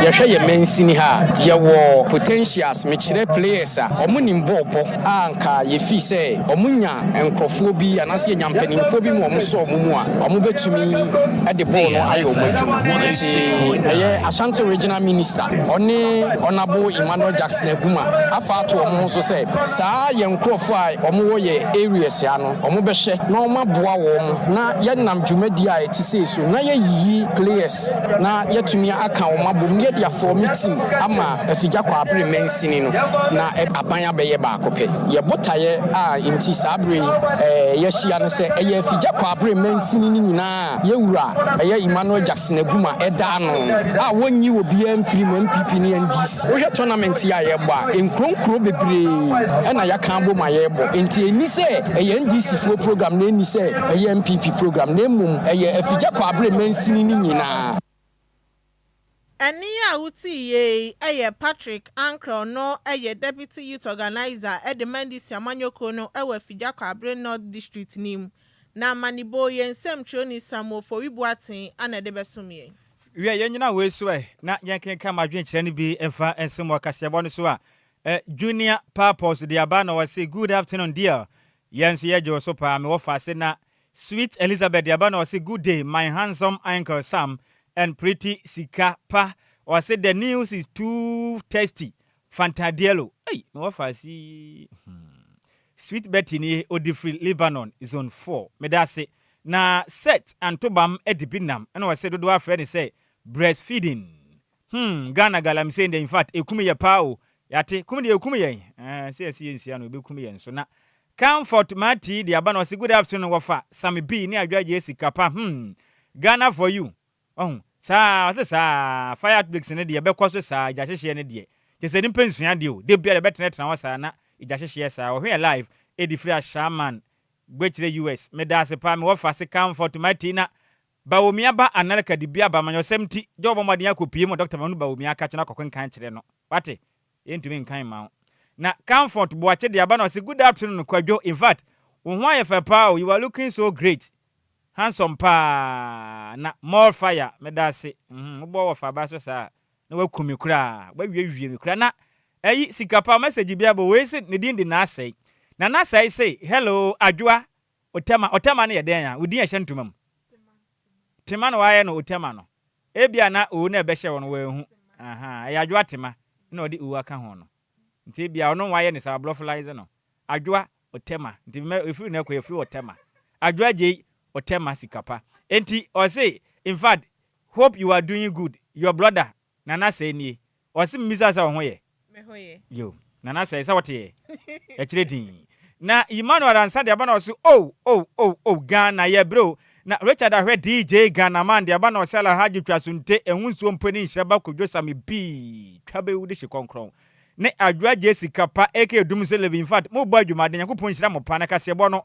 Yɛhwɛ yɛn mansini ha a, yɛwɔ potentials, mekyerɛ players a wɔn nim bɔɔl bɔ a nka yɛfii sɛ wɔn nya nkorɔfoɔ bi anaasɛ yɛnya mpaninfoɔ bi ma wɔn sɔ wɔn mu a, wɔn bɛtumi de bɔɔl no ayɛ wɔn adwuma. Nti ɛyɛ Ashanti Regional Minister ɔne Honourable Emmanuel Jackson Aguma afa ato wɔn ho so sɛ saa yɛn nkorɔfoɔ a wɔn wɔ yɛn areas ha no wɔn bɛhwɛ na wɔn aboa wɔn na yɛnam dwumadie a ɛte sei so na yɛyiyi players na yɛatumi aka wɔn abom na yɛde afɔɔ me tim ama afigya kɔ abere mansini no, na aban abɛyɛ baako pɛ. Yɛn botaeɛ a enti saa berɛ yi yɛahyia ne sɛ ɛyɛ afigya kɔ abere mansini no nyinaa a yɛn Wura ɛyɛ Emmanuel Jackson Aguma ɛda ano no a wɔnyi obiara mfiri mu, NPP ne NDC. Wohwɛ tournament yi a yɛrebɔ a, nkuro nkuro bebree na yɛaka abom a yɛrebɔ, enti ɛnni sɛ ɛyɛ NDC foɔ program na ɛnni sɛ. Ɛyɛ NPP program na mmom ɛyɛ afigya kɔ abere mansini no nyinaa. Ɛnne a wotiiɛ yi yɛ Patrick Ankrah ɔno yɛ Deputy Youth Organiser de Mandisi Amanyɔkuo no wɔ Afigya kɔ abere North District no mu na Amaniboo yɛn nsɛmtwerɛni Samuel Fowi Boateng na de bɛsom yɛn. Wiɛ yɛn nyina wei so ɛ na yɛn kenkan mo adwenkyerɛ no bi mfa nsom wɔ kaseɛbɔ no so a Junior Papos de aba na ɔse Good afternoon dear Yɛ nso yɛ gyoo so paa mewɔ fa ase na sweet Elizabeth deɛ aba na ɔse good day my handsome uncle Sam and pretty sika pa ɔse the news is too tasty fantadiello ei mewɔ fa ase hmm sweet Betty nie ɔdi firi Lebanon zone four meda ase na set antobam adibi nam ɛna ɔse dodoɔ afrɛ no sɛ breast feeding Hmm Ghana galamsey ndɛ infact ekum yɛ paa o yɛate kum deɛ ekum yɛn eh sɛ yɛse yɛnsia no ebekum yɛn nso na Comfort Martee de aba na ɔse good afternoon wɔfa Sammy B ne Adwoagyee sika pa hmm Ghana for you wahu saa ɔse saa fire outbreaks no deɛ ɛbɛkɔ so saa gya hyehyeɛ no deɛ kyesɛ nipa nsua adeɛ o da biara ɛbɛtenatena hɔ saa na gya hyehyeɛ saa wɔhwɛ yɛ live ɛdi firi Ashaiman Gbekyere US medaase paa me wɔfa se Comfort Martee na Bawumia ba Anelka de bi aba ma nyɛ ɔsɛm nti Joe bɔ mmɔden akɔpue ma Dɔkta Manu Bawumia ka kyɛ na kɔkenkan kyerɛ no. Wate? Yɛntumi nkan mma wo. Na Comfort Boakye de aba na ɔse Good afternoon Kwadwo, in fact wo ho ayɛ fɛ paa o, you are looking so great, handsome paa na more fire, meda ase, mm wo bɔ wɔfa aba so saa a na waku me koraa, wawiawie me koraa na ayi sika paa, message bi aba o, wei se ne din de Naasɛe, na Naasɛe se, Hello Adwoa, Otɛma, Otɛma no yɛ dɛn a, wo din a ɛhyɛ ntoma mu? Tema na wɔayɛ no Otɛma no. Ebia na Owu no a ɛbɛhyɛ wɔn no wɔanhu. Aha, ɛyɛ Adwoa Tema na wɔde Owu aka ho no. Nti ebia ɔno na wɔayɛ no saa, wɔablɔfolaize no. Adwoa Otɛma. Nti mɛ, efiri no kɔ, efiri Otɛma. Adwoa Gyei Otɛma sika pa. Enti ɔse, In fact, hope you are doing good, your brother Nana sɛɛ nie. Ɔse memisaa sɛ woho yɛ? Me ho yɛ. Yo. Nana sɛɛ sɛ wote yɛ? Ɛkyerɛ din. Na Emmanuel Ansah deɛ ba na ɔse oh oh oh oh Ghana yɛbrɛ o. Na Richard Ahwɛ DJ Ghanaman deɛ ba na ɔse Alahadji twa so nte ɛho nsuo mpo ne nhyira ba Kojo Sammy pii twa bɛwu de hye kɔnkrɔn ne Adwo Adjei sika pa aka Dumsey Levy infact mo bɔ adwumaden Nyankopɔn nhyira mo paa na kaseɛbɔ no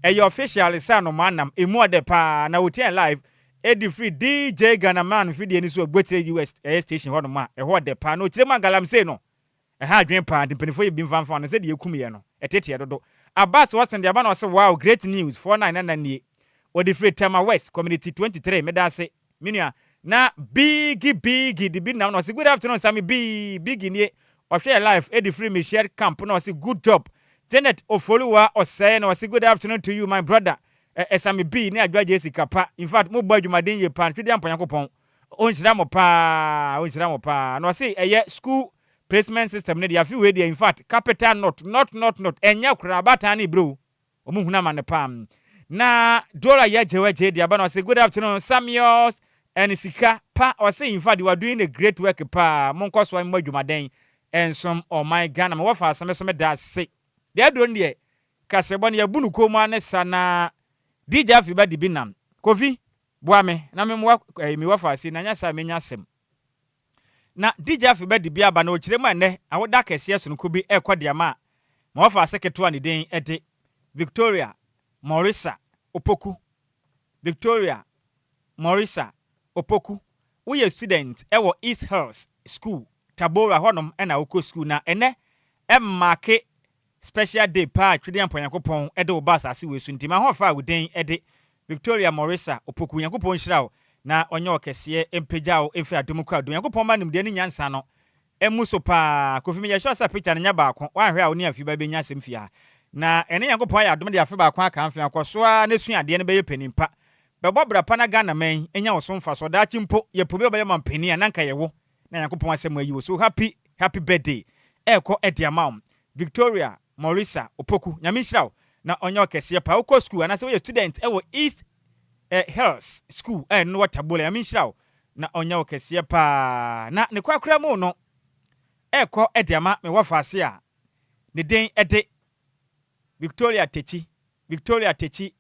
ɛyɛ official se anomaa nam ɛmu ɔdɛ paa na otiaɛ live Edi firi DJ Ghana man mfidie no so wɔ Gbokyire US ɛyɛ station hɔ nom a ɛhɔ ɔdɛ paa na ɔkyire mu a galamsey no ɛha adwene paa nti mpanyinfoɔ yɛ bi mfa mfa no sɛ deɛ ɛkum yɛ no ɛteteɛ dodo Abass Watson de aba na ɔse wow great news four nine nana nie ɔde firi Tema West community twenty three meda ase me nua na Biggy Biggy de bi nam na ɔse good afternoon Sammy B Biggy nie ɔhwɛ yɛ live ɛde firi Michelle Camp na ɔse good job Janet Ofori Waa Ɔsɛe na ɔse good afternoon to you my brother Ɛ ɛ same pii ne adwoa gyee sika pa infact mo bɔ adwumaden yie paa twidi ampa nyankopɔn ɔ nhyira mo paa ɔ nhyira mo paa na ɔ se ɛ yɛ school placement system no deɛ afe wei deɛ infact capital not not not not ɛ nyɛ koraa abaatan ne bro ɔ mo hunu amane paa mm na dollar yɛ gyewɛ gyee deɛ aba na ɔ se good afternoon sameus ɛne sika pa ɔ se infact you are doing a great work paa mo nkɔ so mmɔ adwumaden nsom ɔman Ghana me wɔfa asame so me da ase deɛ aduro no deɛ Kasebɔ no yɛbu no komm ara ne sa na DJ Afi ba dibi nam. Kofi, boa me na me mmoa eh, me wafa ase na nyɛ saa a menya asɛm. Na DJ Afi ba dibi aba na ɔkyerɛ mu a nnɛ awoda akɛseɛ sononko bi ɛrekɔ de ama ma wafa ase ketewa a ne din de Victoria Morisa Opoku. Victoria Morisa Opoku, woyɛ student ɛwɔ East Hills School, Tabora hɔnom na wokɔ school na ɛnnɛ ɛmmaake Special day paa Twede Ampɔn Nyankopɔn de wo ba asase wei so nti mahoɔfɛ a wo den de Victoria Morrisa Opoku Nyankopɔn nhyira wo na ɔnyɛ wo kɛseɛ mpagya wo mfiri adom kɔ adom Nyankopɔn mma nimdeɛ ne nyansa no mmu so paa Kofi meyɛ sure sɛ picture no nyɛ baako woanhwɛ a wo ne Afi ba bɛnya asɛm fie ha na ɛne Nyankopɔn ayɛ adom de afe baako aka mfea kɔ so ara na sua adeɛ no bɛyɛ panin pa bɛbɔ bra pa na Ghana man nya wo so mfasoɔ daakye mpo yɛpɛ obi a ɔbɛyɛ ɔmampanin a na nka ɛyɛ wo Na Nyankopɔn asɛm ayi wo so happy happy birthday ɛɛkɔ de ama wo Victoria Morissa Opoku Nyame nhyira wo na ɔnyɛ wo kɛseɛ paa wokɔ school anaasɛ woyɛ student ɛwɔ East eh Hills school a ɛno no wɔ Tabole Nyame nhyira wo na ɔnyɛ wo kɛseɛ paa na ne kwakora mu no ɛɛkɔ de ama me wɔfaase a ne den de Victoria Tekyi Victoria Tekyi,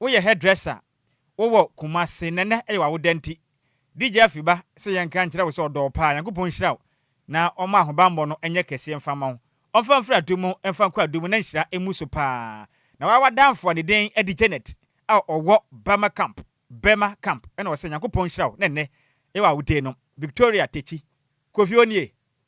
Woyɛ hairdresser, wowɔ Kumasi na nnɛ ɛyɛ w'awoda nti, DJ Afiba sɛ yɛnka nkyerɛ wo sɛ ɔdɔ wo paa, Nyankopɔn nhyira wo na ɔmma ahobammɔ no nyɛ kɛseɛ mfa mma wo. Ɔmfa mfiri adom mu mfa nkɔ adom mu na nhyira mmu so paa. Na woa w'adamfo a ne din de Janet a ɔwɔ Burma Camp, Burma Camp, ɛna ɔsɛ Nyankopɔn nhyira wo na nnɛ ɛyɛ w'awoda nom, Victoria Tekyi. Kofi Onie,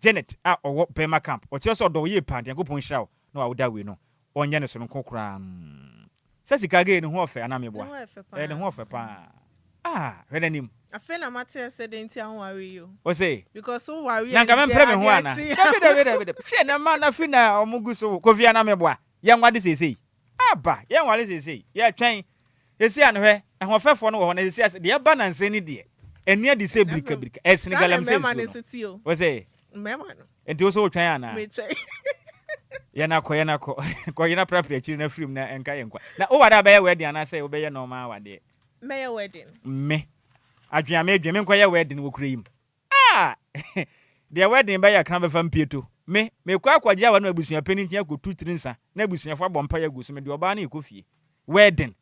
Janet a ɔwɔ Burma camp, ɔkyerɛ sɛ ɔdɔ wo yie paa nti Nyankopɔn nhyira wo na wawo da wei no ɔnyɛ ne sononko koraa mm sɛ sika gay ne ho ɔfɛ anaa meboa ɛɛ ne ho ɔfɛ paa ah hwɛ n'anim. Afei na mate asɛ dɛn nti a wonware yi o. Ose. Because wo ware a ɛnkyɛ adeɛ kye a. Nanka mempere me ho anaa. Dabi dabi dabi dabi hwɛ na ma na fi na ɔmo gu so wo Kofi anaa meboa yɛnwade seisei. Aba, yɛn nware seesei, yɛtwɛn. Seesei a no hwɛ, ɛhoɔfɛfoɔ no wɔ hɔ, na seesei a, deɛ ɛba nansa yi no deɛ, ɛnni adi sɛ birika birika, ɛsene galamsey nsuo no. Wo se? Nti wo so wotwɛn anaa? Yɛn akɔ, yɛn akɔ. Kɔ yena prapra akyiri na firi mu na nka yɛn kwa. Na woware a bɛyɛ wedding anaa sɛ wobɛyɛ normal awadeɛ? Mɛyɛ wedding. Me, adwen a medwen, menkɔ yɛ wedding wɔ kuro yi mu. Ah! Deɛ wedding bɛyɛ kra bɛfa mpieto. Me, mekɔ akɔgye awa no abusuapɛni nkyen akɔtu tiri nsa na abusuafo abɔ mpaeɛ agu so, mede ɔbaa no rekɔ fie. Wedding!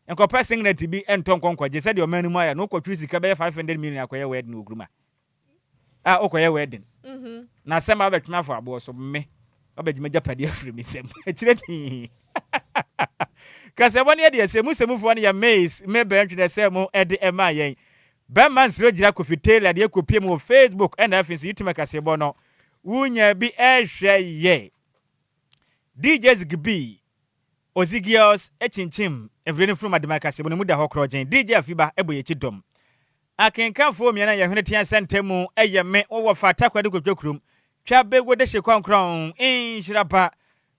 Nkɔpɛ singlet bi ntɔ nkɔ nkɔgye, sɛdeɛ ɔman no mu ayɛ no, wokɔtwere sika bɛyɛ five hundred million akɔyɛ wedding wɔ Nkrumah. Ah, wokɔyɛ wedding, na asɛm aba abɛtwe me afɔ aboɔ so, me, wabɛgye m'agyapadeɛ afiri me nsam. Ɛkyerɛ dii. Kasɛmɔ no yɛ deɛ sɛ mu sɛmufoɔ no yɛ Miss Mabel Ntwenɛ sɛ mo de maa yɛn. Bɛmma nsrɛ gyina Kofi Taylor deɛ kɔpie mu wɔ Facebook ɛna afei nso YouTube akaseɛbɔ no wonya bi ɛhwɛ yɛ. DJ Zigby Ozigios kyinkyim mfidie no mfunumu adema akaseɛbɔ no mu da hɔ korɔgyen DJ Afiba bɔ yɛn akyi dɔm akenkanfoɔ mmiɛn a yɛn hwene tea sɛntɛm mu ɛyɛ me wo wɔfa takoradi kotwa kurom twa bɛguo dehye kɔnkrɔn nhyira ba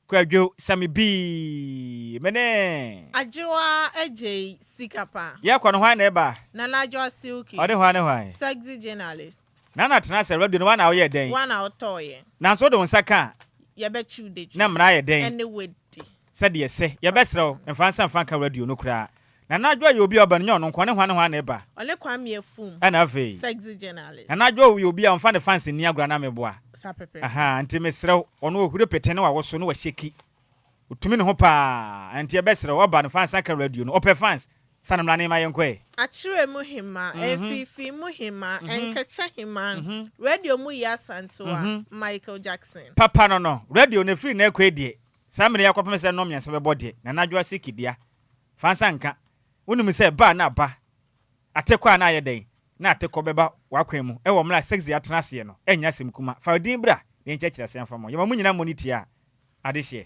Kwadwo sɛ me bii me ne. Adwoa agyei sika pa. Yɛ kɔ no hwan na ɛba. Nana Adwoa Silky. Ɔde hwan ne hwan. Sexy journalist. Nana tena ase radio no woa na woyɛ dɛn. Woa na wotɔɔ yɛ. Nanso wode wo nsa ka a. Yɛbɛkye wo detwe. Na mmara ayɛ dɛn. Ɛne wadi. Sɛdeɛ ɛsɛ. Yɛbɛsrɛ wo mfa nsa mfa nka radio no koraa. Nana Adwo yɛ obi a ɔba no nyɛ ɔno nko a ne hwan ne hwan na ɛba? Ɔne Kwame Afum. Ɛna afei. Sexy journalist. Nana Adwo yɛ obi a ɔmfa ne fans nni agorɔ anaa meboa? Saa pɛpɛɛpɛ. Ahaa nti mesrɛ wo ɔno ɔhuri pete ne wawoso ne wahyeki ɔtumi ne ho paa nti yɛbɛsrɛ wo ɔba no fans aka radio no ɔpɛ fans sane mmra ne ma yɛnkɔ ɛ. Akyerɛ mu hemaa, Afiifii mu hemaa, Nkɛkyɛ hemaa, radio mu yɛ Asantewa, Michael Jackson. Papa no no, radio no ɛfiri nnɛ ɛkɔ ɛ deɛ saa mmerɛ yi akɔpem sɛ nnɔn mmiɛnsa bɛbɔ deɛ Nana Adwo Aseki dea Fa nsa nka. Wunim sɛ ba na ba, atekɔ a na ayɛ dɛn, na atekɔ bɛba w'akwan mu wɔ mmere a sex de atena aseɛ no. Ɛnyɛ asɛm kuma. Fa odin bra na yɛnkyerɛkyerɛ aseɛ mfa mmɔ. Yɛma mo nyinaa mmɔ no tiaa adehyeɛ.